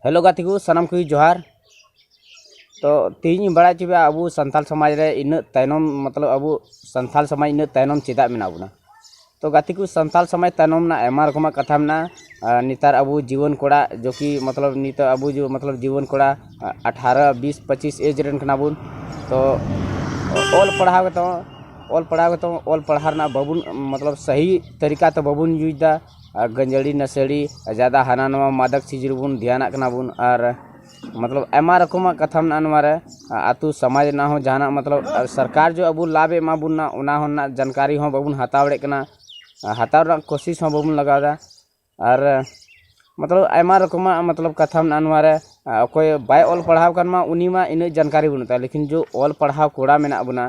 hello ᱜᱟᱛᱮ ᱠᱚ ᱥᱟᱱᱟᱢ ᱠᱚᱜᱮ ᱡᱚᱦᱟᱨ ᱛᱚ ᱛᱮᱦᱮᱧ ᱤᱧ ᱵᱟᱲᱟᱭ ᱦᱚᱪᱚᱭᱟ ᱟᱵᱚ ᱥᱟᱱᱛᱟᱞ ᱥᱚᱢᱟᱡᱽ ᱨᱮ ᱤᱱᱟᱹᱜ ᱛᱟᱭᱱᱚᱢ ᱢᱚᱛᱞᱚᱵ ᱟᱵᱚ ᱥᱟᱱᱛᱟᱞ ᱥᱚᱢᱟᱡᱽ ᱤᱱᱟᱹᱜ ᱛᱟᱭᱱᱚᱢ ᱪᱮᱫᱟᱜ ᱢᱮᱱᱟᱜ ᱵᱚᱱᱟ ᱛᱚ ᱜᱟᱛᱮ ᱠᱚ ᱥᱟᱱᱛᱟᱞ ᱥᱚᱢᱟᱡᱽ ᱛᱟᱭᱱᱚᱢ ᱨᱮᱱᱟᱜ ᱟᱭᱢᱟ ᱨᱚᱠᱚᱢᱟᱜ ᱠᱟᱛᱷᱟ ᱢᱮᱱᱟᱜᱼᱟ ᱱᱮᱛᱟᱨ ᱟᱵᱚ ᱡᱩᱣᱟᱹᱱ ᱠᱚᱲᱟ ᱡᱚᱠᱤ ᱢᱚᱛᱞᱚᱵ ᱱᱤᱛᱚᱜ ᱟᱵᱚ ᱢᱚᱛᱞᱚᱵ ᱡᱩᱣᱟᱹᱱ ᱠᱚᱲᱟ ᱟᱴᱷᱟᱨᱚ ᱵᱤᱥ ᱯᱚᱸᱪᱤᱥ ᱮᱡᱽ ᱨᱮᱱ ᱠᱟᱱᱟ ᱵᱚᱱ ᱛᱚ ᱚᱞ ᱯᱟᱲᱦᱟᱣ ᱠᱟᱛᱮ ᱚᱞ ᱯᱟᱲᱦᱟᱣ ᱠᱟᱛᱮ ᱚᱞ ᱯᱟᱲᱦᱟᱣ ᱨᱮᱱᱟᱜ ᱵᱟᱵᱚᱱ ᱢᱚᱛᱞᱚᱵ ᱥᱟᱹᱦᱤ ᱛᱟᱹᱨᱤᱠᱟ ᱛᱮ ᱵᱟᱵᱚᱱ ᱤᱭᱩᱡᱽ ᱮᱫᱟ ᱟᱨ ᱜᱟᱹᱡᱟᱹᱲᱤ ᱱᱟᱹᱥᱟᱹᱲᱤ ᱡᱟᱫᱟ ᱦᱟᱱᱟ ᱱᱚᱣᱟ ᱢᱟᱫᱚᱠ ᱪᱤᱡᱽ ᱨᱮᱵᱚᱱ ᱫᱷᱮᱭᱟᱱᱟᱜ ᱠᱟᱱᱟ ᱵᱚᱱ ᱟᱨ ᱢᱚᱛᱞᱚᱵ ᱟᱭᱢᱟ ᱨᱚᱠᱚᱢᱟᱜ ᱠᱟᱛᱷᱟ ᱢᱮᱱᱟᱜᱼᱟ ᱱᱚᱣᱟ ᱨᱮ ᱟᱛᱳ ᱥᱚᱢᱟᱡᱽ ᱨᱮᱱᱟᱜ ᱦᱚᱸ ᱡᱟᱦᱟᱱᱟᱜ ᱢᱚᱛᱞᱚᱵ ᱥᱚᱨᱠᱟᱨ ᱡᱮ ᱟᱵᱚ ᱞᱟᱵᱷᱮ ᱮᱢᱟ ᱵᱚᱱ ᱠᱟᱱᱟ ᱚᱱᱟ ᱦᱚᱸ ᱨᱮᱱᱟᱜ ᱡᱟᱱᱠᱟᱨᱤ ᱦᱚᱸ ᱵᱟᱵᱚᱱ ᱦᱟᱛᱟᱣ ᱫᱟᱲᱮᱭᱟᱜ ᱠᱟᱱᱟ ᱟᱨ ᱦᱟᱛᱟᱣ ᱨᱮᱱᱟᱜ ᱠᱳᱥᱤᱥ ᱦᱚᱸ ᱵᱟᱵᱚᱱ ᱞᱟᱜᱟᱣᱫᱟ ᱟᱨ ᱢᱚᱛᱞᱚᱵ ᱟᱭᱢᱟ ᱨᱚᱠᱚᱢᱟᱜ ᱢᱚᱛᱞᱚᱵ ᱠᱟᱛᱷᱟ ᱢᱮᱱᱟᱜᱼᱟ ᱱᱚᱣᱟ ᱨᱮ ᱚᱠᱚᱭ ᱵᱟᱭ ᱚᱞ ᱯᱟᱲᱦᱟᱣ ᱠᱟᱱ ᱢᱟ ᱩᱱᱤ ᱢᱟ ᱩᱱᱟᱹᱜ ᱡᱟᱱᱠᱟᱨᱤ ᱵᱟᱹᱱᱩᱜ ᱛᱟᱭᱟ ᱞᱮᱠᱤᱱ ᱡᱮ ᱚᱞ ᱯᱟᱲᱦᱟᱣ ᱠᱚᱲᱟ ᱢᱮᱱᱟᱜ ᱵᱚᱱᱟ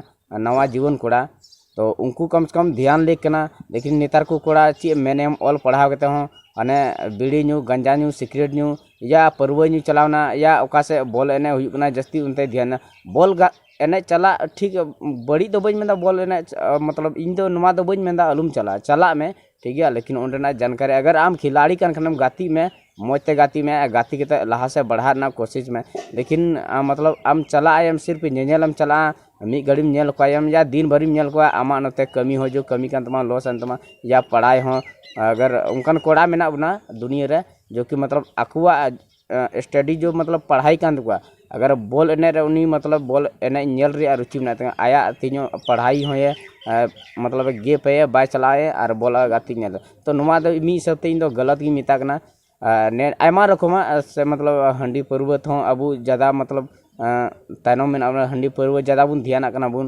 ᱱᱟᱣᱟ ᱡᱩᱣᱟᱹᱱ ᱠᱚᱲᱟ ᱛᱚ ᱩᱱᱠᱩ ᱠᱚᱢ ᱥᱮ ᱠᱚᱢ ᱫᱷᱮᱭᱟᱱ ᱞᱮᱠ ᱠᱟᱱᱟ ᱞᱮᱠᱤᱱ ᱱᱮᱛᱟᱨ ᱠᱚ ᱠᱚᱲᱟ ᱪᱮᱫ ᱮᱢ ᱢᱮᱱᱟᱭᱟ ᱚᱞ ᱯᱟᱲᱦᱟᱣ ᱠᱟᱛᱮ ᱦᱚᱸ ᱢᱟᱱᱮ ᱵᱤᱲᱤ ᱧᱩ ᱜᱟᱸᱡᱟ ᱧᱩ ᱥᱤᱠᱨᱮᱴ ᱧᱩ ᱭᱟ ᱯᱟᱹᱨᱣᱟᱹ ᱧᱩ ᱪᱟᱞᱟᱣ ᱮᱱᱟ ᱭᱟ ᱚᱠᱟ ᱥᱮᱫ ᱵᱚᱞ ᱮᱱᱮᱡ ᱦᱩᱭᱩᱜ ᱠᱟᱱᱟ ᱡᱟᱹᱥᱛᱤ ᱚᱱᱛᱮ ᱫᱷᱮᱭᱟᱱᱟ ᱵᱚᱞ ᱮᱱᱮᱡ ᱪᱟᱞᱟᱜ ᱴᱷᱤᱠ ᱵᱟᱹᱲᱤᱡ ᱫᱚ ᱵᱟᱹᱧ ᱢᱮᱱᱫᱟ ᱵᱚᱞ ᱮᱱᱮᱡ ᱢᱚᱛᱞᱚᱵ ᱤᱧ ᱫᱚ ᱱᱚᱣᱟ ᱫᱚ ᱵᱟᱹᱧ ᱢᱮᱱᱫᱟ ᱟᱞᱚᱢ ᱪᱟᱞᱟᱜᱼᱟ ᱪᱟᱞᱟᱜ ᱢᱮ ᱴᱷᱤᱠ ᱜᱮᱭᱟ ᱞᱮᱠᱤᱱ ᱚᱸᱰᱮᱱᱟᱜ ᱡᱟᱱᱠᱟᱨᱤ ᱟᱜᱟᱨ ᱟᱢ ᱠᱷᱤᱞᱟᱲᱤ ᱠᱟᱱ ᱠᱷᱟᱱᱮᱢ ᱜᱟᱛᱮᱜ ᱢᱮ ᱢᱚᱡᱽ ᱛᱮ ᱜᱟᱛᱮᱜ ᱢᱮ ᱟᱨ ᱜᱟᱛᱮ ᱠᱟᱛᱮ ᱞᱟᱦᱟ ᱥᱮᱫ ᱵᱟᱲᱦᱟᱜ ᱨᱮᱱᱟᱜ ᱠᱳᱥᱤᱥ ᱢᱮ ᱞᱮᱠᱤᱱ ᱟᱢ ᱢᱚᱛᱞᱚᱵ ᱟᱢ ᱪᱟᱞᱟᱜ ᱟᱭᱮᱢ ᱥᱤᱨᱯ ᱧᱮᱧᱮᱞ ᱮᱢ ᱪᱟᱞᱟᱜᱼᱟ ᱢᱤᱫ ᱜᱷᱟᱹᱲᱤᱢ ᱧᱮᱞ ᱠᱚᱣᱟᱭᱮᱢ ᱭᱟ ᱫᱤᱱ ᱵᱷᱟᱹᱨᱤᱢ ᱧᱮᱞ ᱠᱚᱣᱟ ᱟᱢᱟᱜ ᱱᱚᱛᱮ ᱠᱟᱹᱢᱤ ᱦᱚᱸ ᱡᱚᱫᱤ ᱠᱟᱹᱢᱤ ᱠᱟᱱ ᱛᱟᱢᱟ ᱞᱚᱥ ᱮᱱ ᱛᱟᱢᱟ ᱭᱟ ᱯᱟᱲᱦᱟᱭ ᱦᱚᱸ ᱟᱜᱟᱨ ᱚᱱᱠᱟᱱ ᱠᱚᱲᱟ ᱢᱮᱱᱟᱜ ᱵᱚᱱᱟ ᱫᱩᱱᱤᱭᱟᱹ ᱨᱮ ᱡᱚᱠᱤ ᱢᱚᱛᱞᱚᱵ ᱟᱠᱚᱣᱟᱜ ᱥᱴᱟᱰᱤ ᱡᱚᱵ ᱢᱚᱛᱞᱚᱵ ᱯᱟᱲᱦᱟᱣ ᱠᱟᱱ ᱛᱟᱠᱚᱣᱟ ᱟᱜᱟᱨ ᱵᱚᱞ ᱮᱱᱮᱡ ᱨᱮ ᱩᱱᱤ ᱢᱚᱛᱞᱚᱵ ᱵᱚᱞ ᱮᱱᱮᱡ ᱧᱮᱞ ᱨᱮᱭᱟᱜ ᱨᱩᱪᱤ ᱢᱮᱱᱟᱜ ᱛᱟᱭᱟ ᱟᱭᱟᱜ ᱛᱤᱧᱚᱜ ᱯᱟᱲᱦᱟᱣ ᱦᱚᱸᱭᱮ ᱢᱚᱛᱞᱚᱵ ᱜᱮᱯ ᱮᱫᱟᱭ ᱵᱟᱭ ᱪᱟᱞᱟᱜ ᱟᱭ ᱟᱨ ᱵᱚᱞ ᱜᱟᱛᱮᱜ ᱧᱮᱞ ᱛᱚ ᱱᱚᱣᱟ ᱫᱚ ᱢᱤᱫ ᱦᱤᱥᱟᱹᱵ ᱛᱮ ᱤᱧ ᱫᱚ ᱜᱟᱞᱟᱛ ᱜᱤᱧ ᱢᱮᱛᱟᱜ ᱠᱟᱱᱟ ᱟᱨ ᱱᱤᱭᱟᱹ ᱟᱭᱢᱟ ᱨᱚᱠᱚᱢᱟᱜ ᱥᱮ ᱢᱚᱛᱞᱚᱵ ᱦᱟᱺᱰᱤ ᱯᱟᱹᱨᱣᱟᱹ ᱛᱮᱦᱚᱸ ᱟᱵᱚ ᱡᱟᱫᱟ ᱢᱚᱛᱞᱚᱵ ᱛᱟᱭᱱᱚᱢ ᱢᱮᱱᱟᱜ ᱵᱚᱱᱟ ᱦᱟᱺᱰᱤ ᱯᱟᱹᱨᱣᱟᱹ ᱡᱟᱫᱟ ᱵᱚᱱ ᱫᱷᱮᱭᱟᱱᱟᱜ ᱠᱟᱱᱟ ᱵᱚᱱ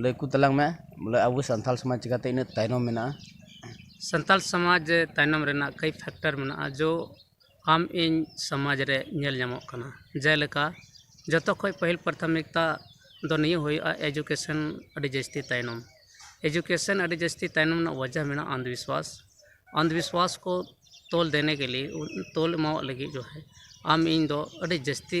ᱞᱟᱹᱭ ᱟᱠᱚ ᱛᱟᱞᱟᱝ ᱢᱮ ᱵᱚᱞᱮ ᱟᱵᱚ ᱥᱟᱱᱛᱟᱲ ᱥᱚᱢᱟᱡᱽ ᱪᱤᱠᱟᱹᱛᱮ ᱤᱱᱟᱹᱜ ᱛᱟᱭᱱᱚᱢ ᱢᱮᱱᱟᱜᱼᱟ ᱥᱟᱱᱛᱟᱲ ᱥᱚᱢᱟᱡᱽ ᱨᱮ ᱛᱟᱭᱱᱚᱢ ᱨᱮᱱᱟᱜ ᱠᱚᱭ ᱯᱷᱮᱠᱴᱟᱨ ᱢᱮᱱᱟᱜᱼᱟ ᱡᱚ ᱟᱢ ᱤᱧ ᱥᱚᱢᱟᱡᱽ ᱨᱮ ᱧᱮᱞ ᱧᱟᱢᱚᱜ ᱠᱟᱱᱟ ᱡᱮᱞᱮᱠᱟ ᱡᱚᱛᱚ ᱠᱷᱚᱱ ᱯᱟᱹᱦᱤᱞ ᱯᱨᱟᱛᱷᱚᱢᱤᱠᱛᱟ ᱫᱚ ᱱᱤᱭᱟᱹ ᱦᱩᱭᱩᱜᱼᱟ ᱮᱰᱩᱠᱮᱥᱚᱱ ᱟᱹᱰᱤ ᱡᱟᱹᱥᱛᱤ ᱛᱟᱭᱱᱚᱢ ᱮᱰᱩᱠᱮᱥᱚᱱ ᱟᱹᱰᱤ ᱡᱟᱹᱥᱛᱤ ᱛᱟᱭᱱᱚᱢ ᱨᱮᱱᱟᱜ ᱚᱡᱮ ᱢᱮᱱᱟᱜᱼᱟ ᱚᱱᱫᱷᱚ ᱵᱤᱥᱥᱚᱣᱟᱥ ᱚᱱᱫᱷᱚ ᱵᱤᱥᱥᱚᱣᱟᱥ ᱠᱚ ᱛᱳᱞ ᱫᱮᱱᱮ ᱠᱮ ᱞᱤᱭᱮ ᱛᱳᱞ ᱮᱢᱟᱣᱟᱜ ᱞᱟᱹᱜᱤᱫ ᱡᱚᱠᱷᱚᱱ ᱟᱢ ᱤᱧ ᱫᱚ ᱟᱹᱰᱤ ᱡᱟᱹᱥᱛᱤ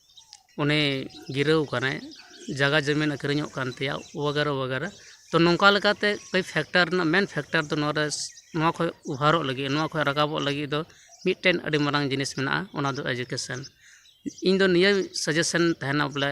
ᱩᱱᱤ ᱜᱤᱨᱟᱹᱣ ᱠᱟᱱᱟᱭ ᱡᱟᱭᱜᱟ ᱡᱚᱢᱤᱱ ᱟᱹᱠᱷᱨᱤᱧᱚᱜ ᱠᱟᱱ ᱛᱟᱭᱟ ᱵᱟᱜᱮᱨᱟ ᱵᱟᱜᱮᱨᱟ ᱛᱳ ᱱᱚᱝᱠᱟ ᱞᱮᱠᱟᱛᱮ ᱠᱟᱹᱡ ᱯᱷᱮᱠᱴᱟᱨ ᱨᱮᱱᱟᱜ ᱢᱮᱱ ᱯᱷᱮᱠᱴᱟᱨ ᱫᱚ ᱱᱚᱣᱟᱨᱮ ᱱᱚᱣᱟ ᱠᱷᱚᱡ ᱚᱵᱷᱟᱨᱚᱜ ᱞᱟᱹᱜᱤᱫ ᱱᱚᱣᱟ ᱠᱷᱚᱡ ᱨᱟᱠᱟᱵᱚᱜ ᱞᱟᱹᱜᱤᱫ ᱫᱚ ᱢᱤᱫᱴᱮᱱ ᱟᱹᱰᱤ ᱢᱟᱨᱟᱝ ᱡᱤᱱᱤᱥ ᱢᱮᱱᱟᱜᱼᱟ ᱚᱱᱟᱫᱚ ᱮᱰᱩᱠᱮᱥᱮᱱ ᱤᱧᱫᱚ ᱱᱤᱭᱟᱹ ᱥᱟᱡᱮᱥᱮᱱ ᱛᱟᱦᱮᱱᱟ ᱵᱚᱞᱮ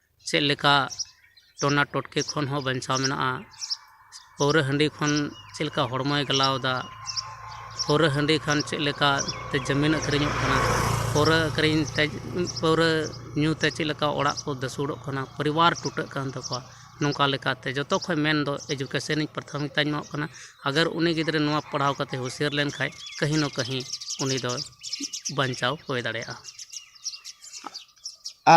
ᱪᱮᱫ ᱞᱮᱠᱟ ᱴᱚᱱᱟ ᱴᱚᱴᱠᱤ ᱠᱷᱚᱱ ᱦᱚᱸ ᱵᱟᱧᱪᱟᱣ ᱢᱮᱱᱟᱜᱼᱟ ᱯᱟᱹᱣᱨᱟᱹ ᱦᱟᱺᱰᱤ ᱠᱷᱚᱱ ᱪᱮᱫ ᱞᱮᱠᱟ ᱦᱚᱲᱢᱚᱭ ᱜᱟᱞᱟᱣᱫᱟ ᱯᱟᱹᱣᱨᱟᱹ ᱦᱟᱺᱰᱤ ᱠᱷᱟᱱ ᱪᱮᱫ ᱞᱮᱠᱟ ᱛᱮ ᱡᱟᱹᱢᱤᱱ ᱟᱹᱠᱷᱨᱤᱧᱚᱜ ᱠᱟᱱᱟ ᱯᱟᱹᱣᱨᱟᱹ ᱟᱹᱠᱷᱨᱤᱧ ᱛᱮ ᱯᱟᱹᱣᱨᱟᱹ ᱧᱩ ᱛᱮ ᱪᱮᱫ ᱞᱮᱠᱟ ᱚᱲᱟᱜ ᱠᱚ ᱫᱷᱟᱹᱥᱩᱲᱚᱜ ᱠᱟᱱᱟ ᱯᱚᱨᱤᱵᱟᱨ ᱴᱩᱴᱟᱹᱜ ᱠᱟᱱ ᱛᱟᱠᱚᱣᱟ ᱱᱚᱝᱠᱟ ᱞᱮᱠᱟᱛᱮ ᱡᱚᱛᱚ ᱠᱷᱚᱱ ᱢᱮᱱ ᱫᱚ ᱮᱰᱩᱠᱮᱥᱮᱱ ᱤᱧ ᱯᱨᱟᱛᱷᱚᱢᱤᱠᱛᱟᱧ ᱮᱢᱟᱣᱟᱜ ᱠᱟᱱᱟ ᱟᱜᱚᱨ ᱩᱱᱤ ᱜᱤᱫᱽᱨᱟᱹ ᱱᱚᱣᱟ ᱯᱟᱲᱦᱟᱣ ᱠᱟᱛᱮᱫ ᱦᱩᱥᱭᱟᱹᱨ ᱞᱮᱱᱠᱷᱟᱱ ᱠᱟᱹᱦᱤ ᱱᱟ ᱠᱟᱹᱦᱤ ᱩᱱᱤ ᱫᱚᱭ ᱵᱟᱧᱪᱟᱣ ᱦᱩᱭ ᱫᱟᱲᱮᱭᱟᱜᱼᱟ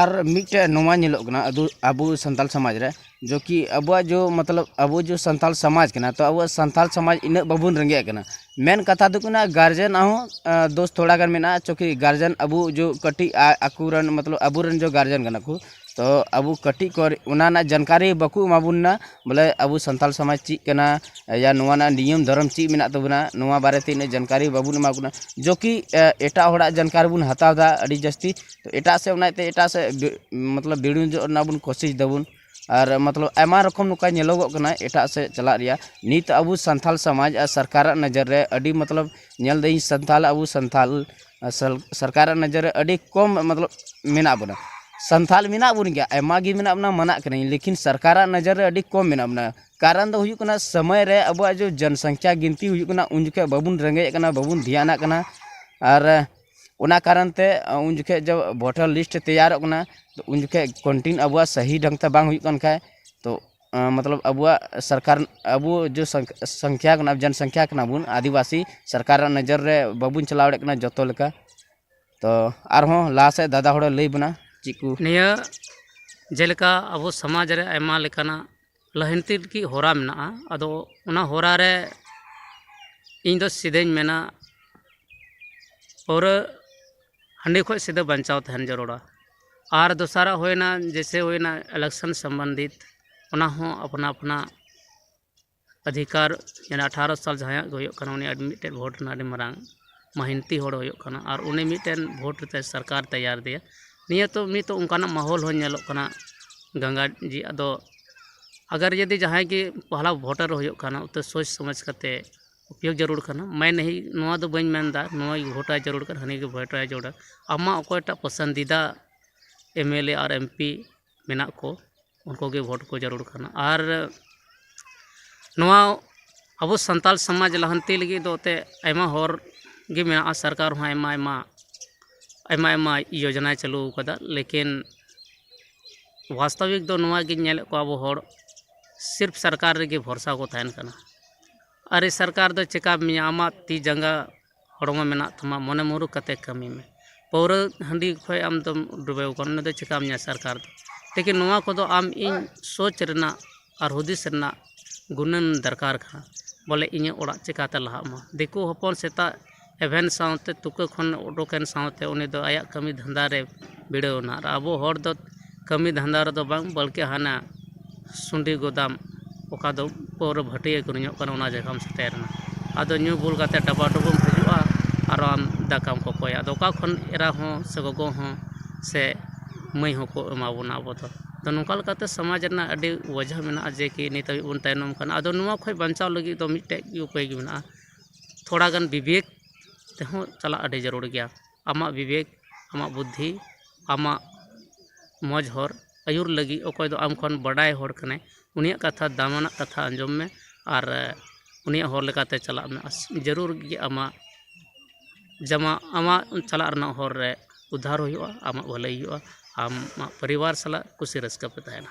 ᱟᱨ ᱢᱤᱫᱴᱮᱡ ᱱᱚᱣᱟ ᱧᱮᱞᱚᱜ ᱠᱟᱱᱟ ᱟᱫᱚ ᱟᱵᱚ ᱥᱟᱱᱛᱟᱲ ᱥᱚᱢᱟᱡᱽ ᱨᱮ ᱡᱚ ᱠᱤ ᱟᱵᱚᱣᱟᱜ ᱡᱚ ᱢᱚᱛᱞᱚᱵ ᱟᱵᱚ ᱡᱚ ᱥᱟᱱᱛᱟᱲ ᱥᱚᱢᱟᱡᱽ ᱠᱟᱱᱟ ᱛᱚ ᱟᱵᱚᱣᱟᱜ ᱥᱟᱱᱛᱟᱲ ᱥᱚᱢᱟᱡᱽ ᱤᱱᱟᱹᱜ ᱵᱟᱵᱚᱱ ᱨᱮᱸᱜᱮᱡ ᱠᱟᱱᱟ ᱢᱮᱱ ᱠᱟᱛᱷᱟ ᱫᱚ ᱠᱟᱱᱟ ᱜᱟᱨᱡᱮᱱ ᱟᱜ ᱦᱚᱸ ᱫᱳᱥ ᱛᱷᱚᱲᱟ ᱜᱟᱱ ᱢᱮᱱᱟᱜᱼᱟ ᱪᱩᱠᱤ ᱜᱟᱨᱡᱮᱱ ᱟᱵᱚ ᱡᱚ ᱠᱟᱹᱴᱤᱡ ᱟᱠᱚ ᱨᱮᱱ ᱢᱚᱛᱞᱚᱵ ᱟᱵᱚ ᱨᱮᱱ ᱡᱚ ᱜᱟᱨᱡᱮᱱ ᱠᱟᱱᱟ ᱠᱚ ᱛᱚ ᱟᱵᱚ ᱠᱟᱹᱴᱤᱡ ᱠᱷᱚᱡ ᱚᱱᱟ ᱨᱮᱱᱟᱜ ᱡᱟᱱᱠᱟᱨᱤ ᱵᱟᱠᱚ ᱮᱢᱟ ᱵᱚᱱ ᱠᱟᱱᱟ ᱵᱚᱞᱮ ᱟᱵᱚ ᱥᱟᱱᱛᱟᱲ ᱥᱚᱢᱟᱡᱽ ᱪᱮᱫ ᱠᱟᱱᱟ ᱭᱟ ᱱᱚᱣᱟ ᱨᱮᱱᱟᱜ ᱱᱤᱭᱚᱢ ᱫᱷᱚᱨᱚᱢ ᱪᱮᱫ ᱢᱮᱱᱟᱜ ᱛᱟᱵᱚᱱᱟ ᱱᱚᱣᱟ ᱵᱟᱨᱮ ᱛᱮ ᱩᱱᱟᱹᱜ ᱡᱟᱱᱠᱟᱨᱤ ᱵᱟᱵᱚᱱ ᱮᱢᱟ ᱠᱚ ᱠᱟᱱᱟ ᱡᱚ ᱠᱤ ᱮᱴᱟᱜ ᱦᱚᱲᱟᱜ ᱡᱟᱱᱠᱟᱨᱤ ᱵᱚᱱ ᱦᱟᱛᱟᱣᱫᱟ ᱟᱹᱰᱤ ᱡᱟᱹᱥᱛᱤ ᱛᱚ ᱮᱴᱟᱜ ᱥᱮᱫ ᱚᱱᱟ ᱤᱭᱟᱹᱛᱮ ᱮᱴᱟᱜ ᱥᱮᱫ ᱢᱚᱛᱞᱚᱵ ᱵᱤᱲᱩᱡᱚᱜ ᱨᱮᱱᱟᱜ ᱵᱚᱱ ᱠᱳᱥᱤᱥ ᱫᱟᱵᱚᱱ ᱟᱨ ᱢᱚᱛᱞᱚᱵ ᱟᱭᱢᱟ ᱨᱚᱠᱚᱢ ᱱᱚᱝᱠᱟ ᱧᱮᱞᱚᱜᱚᱜ ᱠᱟᱱᱟ ᱮᱴᱟᱜ ᱥᱮᱫ ᱪᱟᱞᱟᱜ ᱨᱮᱭᱟᱜ ᱱᱤᱛ ᱟᱵᱚ ᱥᱟᱱᱛᱟᱲ ᱥᱚᱢᱟᱡᱽ ᱟᱨ ᱥᱚᱨᱠᱟᱨᱟᱜ ᱱᱚᱡᱚᱨ ᱨᱮ ᱟᱹᱰᱤ ᱢᱚᱛᱞᱚᱵ ᱧᱮᱞ ᱫᱟᱹᱧ ᱥᱟᱱᱛᱟᱲ ᱟᱵᱚ ᱥᱟᱱᱛᱟᱲ ᱥᱚᱨᱠᱟᱨᱟᱜ ᱱᱚᱡᱚᱨ ᱨᱮ ᱟᱹᱰᱤ ᱠᱚᱢ ᱢᱚᱛᱞᱚᱵ ᱢᱮᱱᱟᱜ ᱵᱚᱱᱟ ᱥᱟᱱᱛᱟᱲ ᱢᱮᱱᱟᱜ ᱵᱚᱱ ᱜᱮᱭᱟ ᱟᱭᱢᱟ ᱜᱮ ᱢᱮᱱᱟᱜ ᱵᱚᱱᱟ ᱢᱟᱱᱟᱜ ᱠᱟᱹᱱᱟᱹᱧ ᱞᱮᱠᱤᱱ ᱥᱚᱨᱠᱟᱨᱟᱜ ᱱᱚᱡᱚᱨ ᱨᱮ ᱟᱹᱰᱤ ᱠᱚᱢ ᱢᱮᱱᱟᱜ ᱵᱚᱱᱟ ᱠᱟᱨᱚᱱ ᱫᱚ ᱦᱩᱭᱩᱜ ᱠᱟᱱᱟ ᱥᱚᱢᱚᱭ ᱨᱮ ᱟᱵᱚᱣᱟᱜ ᱡᱚᱱ ᱥᱚᱝᱠᱷᱟ ᱜᱤᱱᱛᱤ ᱦᱩᱭᱩᱜ ᱠᱟᱱᱟ ᱩᱱ ᱡᱚᱠᱷᱚᱡ ᱵᱟᱵᱚᱱ ᱨᱮᱸᱜᱮᱡ ᱠᱟᱱᱟ ᱵᱟᱵᱚᱱ ᱫᱷᱮᱭᱟᱱᱟᱜ ᱠᱟᱱᱟ ᱟᱨ ᱚᱱᱟ ᱠᱟᱨᱚᱱ ᱛᱮ ᱩᱱ ᱡᱚᱠᱷᱮᱡ ᱫᱚ ᱵᱷᱳᱴᱟᱨ ᱞᱤᱥᱴ ᱛᱮᱭᱟᱨᱚᱜ ᱠᱟᱱᱟ ᱛᱚ ᱩᱱ ᱡᱚᱠᱷᱮᱡ ᱠᱚᱱᱴᱤᱱ ᱟᱵᱚᱣᱟᱜ ᱥᱟᱹᱦᱤ ᱰᱷᱚᱝ ᱛᱮ ᱵᱟᱝ ᱦᱩᱭᱩᱜ ᱠᱟᱱ ᱠᱷᱟᱡ ᱛᱚ ᱢᱚᱛᱞᱚᱵ ᱟᱵᱚᱣᱟᱜ ᱥᱚᱨᱠᱟᱨ ᱟᱵᱚ ᱡᱮ ᱥᱚᱝᱠᱷᱟ ᱠᱟᱱᱟ ᱡᱚᱱ ᱥᱚᱝᱠᱷᱟ ᱠᱟᱱᱟ ᱵᱚᱱ ᱟᱹᱫᱤᱵᱟᱹᱥᱤ ᱥᱚᱨᱠᱟᱨᱟᱜ ᱱᱚᱡᱚᱨ ᱨᱮ ᱵᱟᱵᱚᱱ ᱪᱟᱞᱟᱣ ᱫᱟᱲᱮᱭᱟᱜ ᱠᱟᱱᱟ ᱡᱚᱛᱚ ᱞᱮᱠᱟ ᱛᱚ ᱟᱨᱦᱚᱸ ᱞᱟᱦᱟ ᱥᱮᱫ ᱫᱟᱫᱟ ᱦᱚᱲᱮ ᱞᱟᱹᱭ ᱵᱚᱱᱟ ᱪᱮᱫ ᱠᱚ ᱱᱤᱭᱟᱹ ᱡᱮᱞᱮᱠᱟ ᱟᱵᱚ ᱥᱚᱢᱟᱡᱽ ᱨᱮ ᱟᱭᱢᱟ ᱞᱮᱠᱟᱱᱟᱜ ᱞᱟᱦᱟᱱᱛᱤ ᱞᱟᱹᱜᱤᱫ ᱦᱚᱨᱟ ᱢᱮᱱᱟᱜᱼᱟ ᱟᱫᱚ ᱚᱱᱟ ᱦᱚᱨᱟ ᱨᱮ ᱤᱧ ᱫᱚ ᱥᱤᱫᱷᱟᱹᱧ ᱢᱮᱱᱟ ᱯᱟᱹᱣᱨᱟᱹ ᱦᱟᱺᱰᱤ ᱠᱷᱚᱱ ᱥᱤᱫᱷᱟᱹ ᱵᱟᱧᱪᱟᱣ ᱛᱟᱦᱮᱱ ᱡᱟᱹᱨᱩᱲᱟ ᱟᱨ ᱫᱚᱥᱟᱨᱟᱜ ᱦᱩᱭᱱᱟ ᱡᱮᱭᱥᱮ ᱦᱩᱭᱱᱟ ᱤᱞᱮᱠᱥᱚᱱ ᱥᱚᱢᱵᱚᱱᱫᱷᱤᱛ ᱚᱱᱟ ᱦᱚᱸ ᱟᱯᱱᱟ ᱟᱯᱱᱟ ᱚᱫᱷᱤᱠᱟᱨ ᱢᱮᱱᱟᱜᱼᱟ ᱟᱴᱷᱟᱨᱚ ᱥᱟᱞ ᱡᱟᱦᱟᱸᱭᱟᱜ ᱜᱮ ᱦᱩᱭᱩᱜ ᱠᱟᱱᱟ ᱩᱱᱤᱭᱟᱜ ᱢᱤᱫᱴᱮᱱ ᱵᱷᱳᱴ ᱨᱮᱱᱟᱜ ᱟᱹᱰᱤ ᱢᱟᱨᱟᱝ ᱢᱮᱦᱱᱚᱛᱤ ᱦᱚᱲ ᱦᱩᱭᱩᱜ ᱠᱟᱱᱟ ᱟᱨ ᱩᱱᱤ ᱢᱤᱫᱴᱮᱱ ᱵᱷᱳᱴ ᱠᱟᱛᱮ ᱥᱚᱨᱠᱟᱨ ᱛᱮᱭᱟᱨ ᱟᱫᱮᱭᱟ ᱱᱤᱭᱟᱹ ᱛᱚ ᱱᱤᱛ ᱦᱚᱸ ᱚᱱᱠᱟᱱᱟᱜ ᱢᱚᱦᱚᱞ ᱦᱚᱸ ᱧᱮᱞᱚᱜ ᱠᱟᱱᱟ ᱜᱚᱝᱜᱟ ᱡᱤ ᱟᱫᱚ ᱟᱜᱟᱨ ᱡᱩᱫᱤ ᱡᱟᱦᱟᱸᱭ ᱜᱮ ᱯᱚᱦᱞᱟ ᱵᱷᱳᱴᱟᱨ ᱦᱩᱭᱩᱜ ᱠᱟᱱᱟ ᱛᱚ ᱥᱳᱪ ᱥᱚᱢᱚᱡᱽ ᱠᱟᱛᱮ ᱩᱯᱭᱳᱜᱽ ᱡᱟᱹᱨᱩᱲ ᱠᱟᱱᱟ ᱢᱮᱱ ᱱᱟᱹᱦᱤ ᱱᱚᱣᱟ ᱫᱚ ᱵᱟᱹᱧ ᱢᱮᱱᱫᱟ ᱱᱩᱭ ᱵᱷᱳᱴᱟᱭ ᱡᱟᱹᱨᱩᱲ ᱠᱟᱱᱟ ᱦᱟᱹᱱᱤ ᱜᱮ ᱵᱷᱳᱴᱟᱭ ᱡᱟᱹᱨᱩᱲᱟ ᱟᱢᱟᱜ ᱚᱠᱚᱭᱴᱟᱜ ᱯᱚᱥᱚᱱᱫᱤᱫᱟ ᱮᱢᱮᱞᱮ ᱟᱨ ᱮᱢᱯᱤ ᱢᱮᱱᱟᱜ ᱠᱚ ᱩᱱᱠᱩ ᱜᱮ ᱵᱷᱳᱴ ᱠᱚ ᱡᱟᱹᱨᱩᱲ ᱠᱟᱱᱟ ᱟᱨ ᱱᱚᱣᱟ ᱟᱵᱚ ᱥᱟᱱᱛᱟᱲ ᱥᱚᱢᱟᱡᱽ ᱞᱟᱦᱟᱱᱛᱤ ᱞᱟᱹᱜᱤᱫ ᱫᱚ ᱮᱱᱛᱮᱫ ᱟᱭᱢᱟ ᱦᱚᱨ ᱜᱮ ᱢᱮᱱᱟᱜᱼᱟ ᱥᱚᱨᱠᱟᱨ ᱦᱚᱸ ᱟᱭᱢᱟ ᱟᱭᱢᱟ ᱟᱭᱢᱟ ᱟᱭᱢᱟ ᱡᱳᱡᱚᱱᱟᱭ ᱪᱟᱹᱞᱩ ᱠᱟᱫᱟ ᱞᱮᱠᱤᱱ ᱵᱟᱥᱛᱚᱵᱤᱠ ᱫᱚ ᱱᱚᱣᱟ ᱜᱤᱧ ᱧᱮᱞᱮᱫ ᱠᱚᱣᱟ ᱟᱵᱚ ᱦᱚᱲ ᱥᱤᱨᱯ ᱥᱚᱨᱠᱟᱨ ᱨᱮᱜᱮ ᱵᱷᱚᱨᱥᱟ ᱠᱚ ᱛᱟᱦᱮᱱ ᱠᱟᱱᱟ ᱟᱨᱮ ᱥᱚᱨᱠᱟᱨ ᱫᱚ ᱪᱮᱠᱟᱯ ᱢᱮᱭᱟ ᱟᱢᱟᱜ ᱛᱤ ᱡᱟᱸᱜᱟ ᱦᱚᱲᱢᱚ ᱢᱮᱱᱟᱜ ᱛᱟᱢᱟ ᱢᱚᱱᱮ ᱢᱩᱨᱩᱠᱷ ᱠᱟᱛᱮᱫ ᱠᱟᱹᱢᱤ ᱢᱮ ᱯᱟᱹᱣᱨᱟᱹ ᱦᱟᱺᱰᱤ ᱠᱷᱚᱱ ᱟᱢ ᱫᱚᱢ ᱰᱩᱵᱟᱹᱣ ᱠᱟᱱᱟ ᱚᱱᱟ ᱫᱚ ᱪᱤᱠᱟᱹᱢ ᱧᱟᱢᱟ ᱥᱚᱨᱠᱟᱨ ᱫᱚ ᱞᱮᱠᱤᱱ ᱱᱚᱣᱟ ᱠᱚᱫᱚ ᱟᱢ ᱤᱧ ᱥᱳᱪ ᱨᱮᱱᱟᱜ ᱟᱨ ᱦᱩᱫᱤᱥ ᱨᱮᱱᱟᱜ ᱜᱩᱱᱟᱹᱱ ᱫᱚᱨᱠᱟᱨ ᱠᱟᱱᱟ ᱵᱚᱞᱮ ᱤᱧᱟᱹᱜ ᱚᱲᱟᱜ ᱪᱤᱠᱟᱹᱛᱮ ᱞᱟᱦᱟᱜ ᱢᱟ ᱫᱤᱠᱩ ᱦᱚᱯᱚᱱ ᱥᱮᱛᱟᱜ ᱮᱵᱷᱮᱱ ᱥᱟᱶᱛᱮ ᱛᱩᱠᱟᱹ ᱠᱷᱚᱱ ᱩᱰᱩᱠᱮᱱ ᱥᱟᱶᱛᱮ ᱩᱱᱤ ᱫᱚ ᱟᱭᱟᱜ ᱠᱟᱹᱢᱤ ᱫᱷᱟᱱᱫᱟ ᱨᱮ ᱵᱷᱤᱲᱟᱹᱣ ᱮᱱᱟ ᱟᱨ ᱟᱵᱚ ᱦᱚᱲ ᱫᱚ ᱠᱟᱹᱢᱤ ᱫᱷᱟᱱᱫᱟ ᱨᱮᱫᱚ ᱵᱟᱝ ᱵᱚᱞᱠᱤ ᱦᱟᱱᱟ ᱥᱩᱰᱤ ᱜᱩᱫᱟᱢ ᱚᱠᱟ ᱫᱚ ᱯᱟᱹᱣᱨᱟᱹ ᱵᱷᱟᱹᱴᱤᱭᱟᱹ ᱟᱹᱠᱷᱨᱤᱧᱚᱜ ᱠᱟᱱᱟ ᱚᱱᱟ ᱡᱟᱭᱜᱟᱢ ᱥᱮᱴᱮᱨᱮᱱᱟ ᱟᱫᱚ ᱧᱩ ᱵᱩᱞ ᱠᱟᱛᱮᱫ ᱰᱟᱵᱟ ᱰᱩᱵᱩᱢ ᱦᱤᱡᱩᱜᱼᱟ ᱟᱨ ᱟᱢ ᱫᱟᱠᱟᱢ ᱠᱚᱠᱚᱭᱟ ᱟᱫᱚ ᱚᱠᱟ ᱠᱷᱚᱱ ᱮᱨᱟ ᱦᱚᱸ ᱥᱮ ᱜᱚᱜᱚ ᱦᱚᱸ ᱥᱮ ᱢᱟᱹᱭ ᱦᱚᱸ ᱠᱚ ᱮᱢᱟ ᱵᱚᱱᱟ ᱟᱵᱚ ᱫᱚ ᱟᱫᱚ ᱱᱚᱝᱠᱟ ᱞᱮᱠᱟᱛᱮ ᱥᱚᱢᱟᱡᱽ ᱨᱮᱱᱟᱜ ᱟᱹᱰᱤ ᱚᱡᱮ ᱦᱚᱸ ᱢᱮᱱᱟᱜᱼᱟ ᱡᱮ ᱠᱤ ᱱᱤᱛ ᱦᱟᱹᱵᱤᱡ ᱵᱚᱱ ᱛᱟᱭᱱᱚᱢ ᱠᱟᱱᱟ ᱟᱫᱚ ᱱᱚᱣᱟ ᱠᱷᱚᱱ ᱵᱟᱧᱪᱟᱣ ᱞᱟᱹᱜᱤᱫ ᱫᱚ ᱢᱤᱫᱴᱮᱡ ᱜᱮ ᱩᱯᱟᱹᱭ ᱜᱮ ᱢᱮᱱᱟᱜᱼᱟ ᱛᱷᱚᱲᱟ ᱜᱟᱱ ᱵᱤᱵᱮᱠ ᱛᱮᱦᱚᱸ ᱪᱟᱞᱟᱜ ᱟᱹᱰᱤ ᱡᱟᱹᱨᱩᱲ ᱜᱮᱭᱟ ᱟᱢᱟᱜ ᱵᱤᱵᱮᱠ ᱟᱢᱟᱜ ᱵᱩᱫᱽᱫᱷᱤ ᱟᱢᱟᱜ ᱢᱚᱡᱽ ᱦᱚᱨ ᱟᱹᱭᱩᱨ ᱞᱟᱹᱜᱤᱫ ᱚᱠᱚᱭ ᱫᱚ ᱟᱢ ᱠᱷᱚᱱ ᱵᱟᱰᱟᱭ ᱦᱚᱲ ᱠᱟᱱᱟᱭ ᱩᱱᱤᱭᱟᱜ ᱠᱟᱛᱷᱟ ᱫᱟᱢᱟᱱᱟᱜ ᱠᱟᱛᱷᱟ ᱟᱸᱡᱚᱢ ᱢᱮ ᱟᱨ ᱩᱱᱤᱭᱟᱜ ᱦᱚᱨ ᱞᱮᱠᱟᱛᱮ ᱪᱟᱞᱟᱜ ᱢᱮ ᱡᱟᱹᱨᱩᱲ ᱜᱮ ᱟᱢᱟᱜ ᱡᱟᱢᱟᱜ ᱟᱢᱟᱜ ᱪᱟᱞᱟᱜ ᱨᱮᱱᱟᱜ ᱦᱚᱨ ᱨᱮ ᱩᱫᱽᱫᱷᱟᱨ ᱦᱩᱭᱩᱜᱼᱟ ᱟᱢᱟᱜ ᱵᱷᱟᱹᱞᱟᱹᱭ ᱦᱩᱭᱩᱜᱼᱟ ᱟᱢᱟᱜ ᱯᱚᱨᱤᱵᱟᱨ ᱥᱟᱞᱟᱜ ᱠᱩᱥᱤ ᱨᱟᱹᱥᱠᱟᱹ ᱯᱮ ᱛᱟᱦᱮᱱᱟ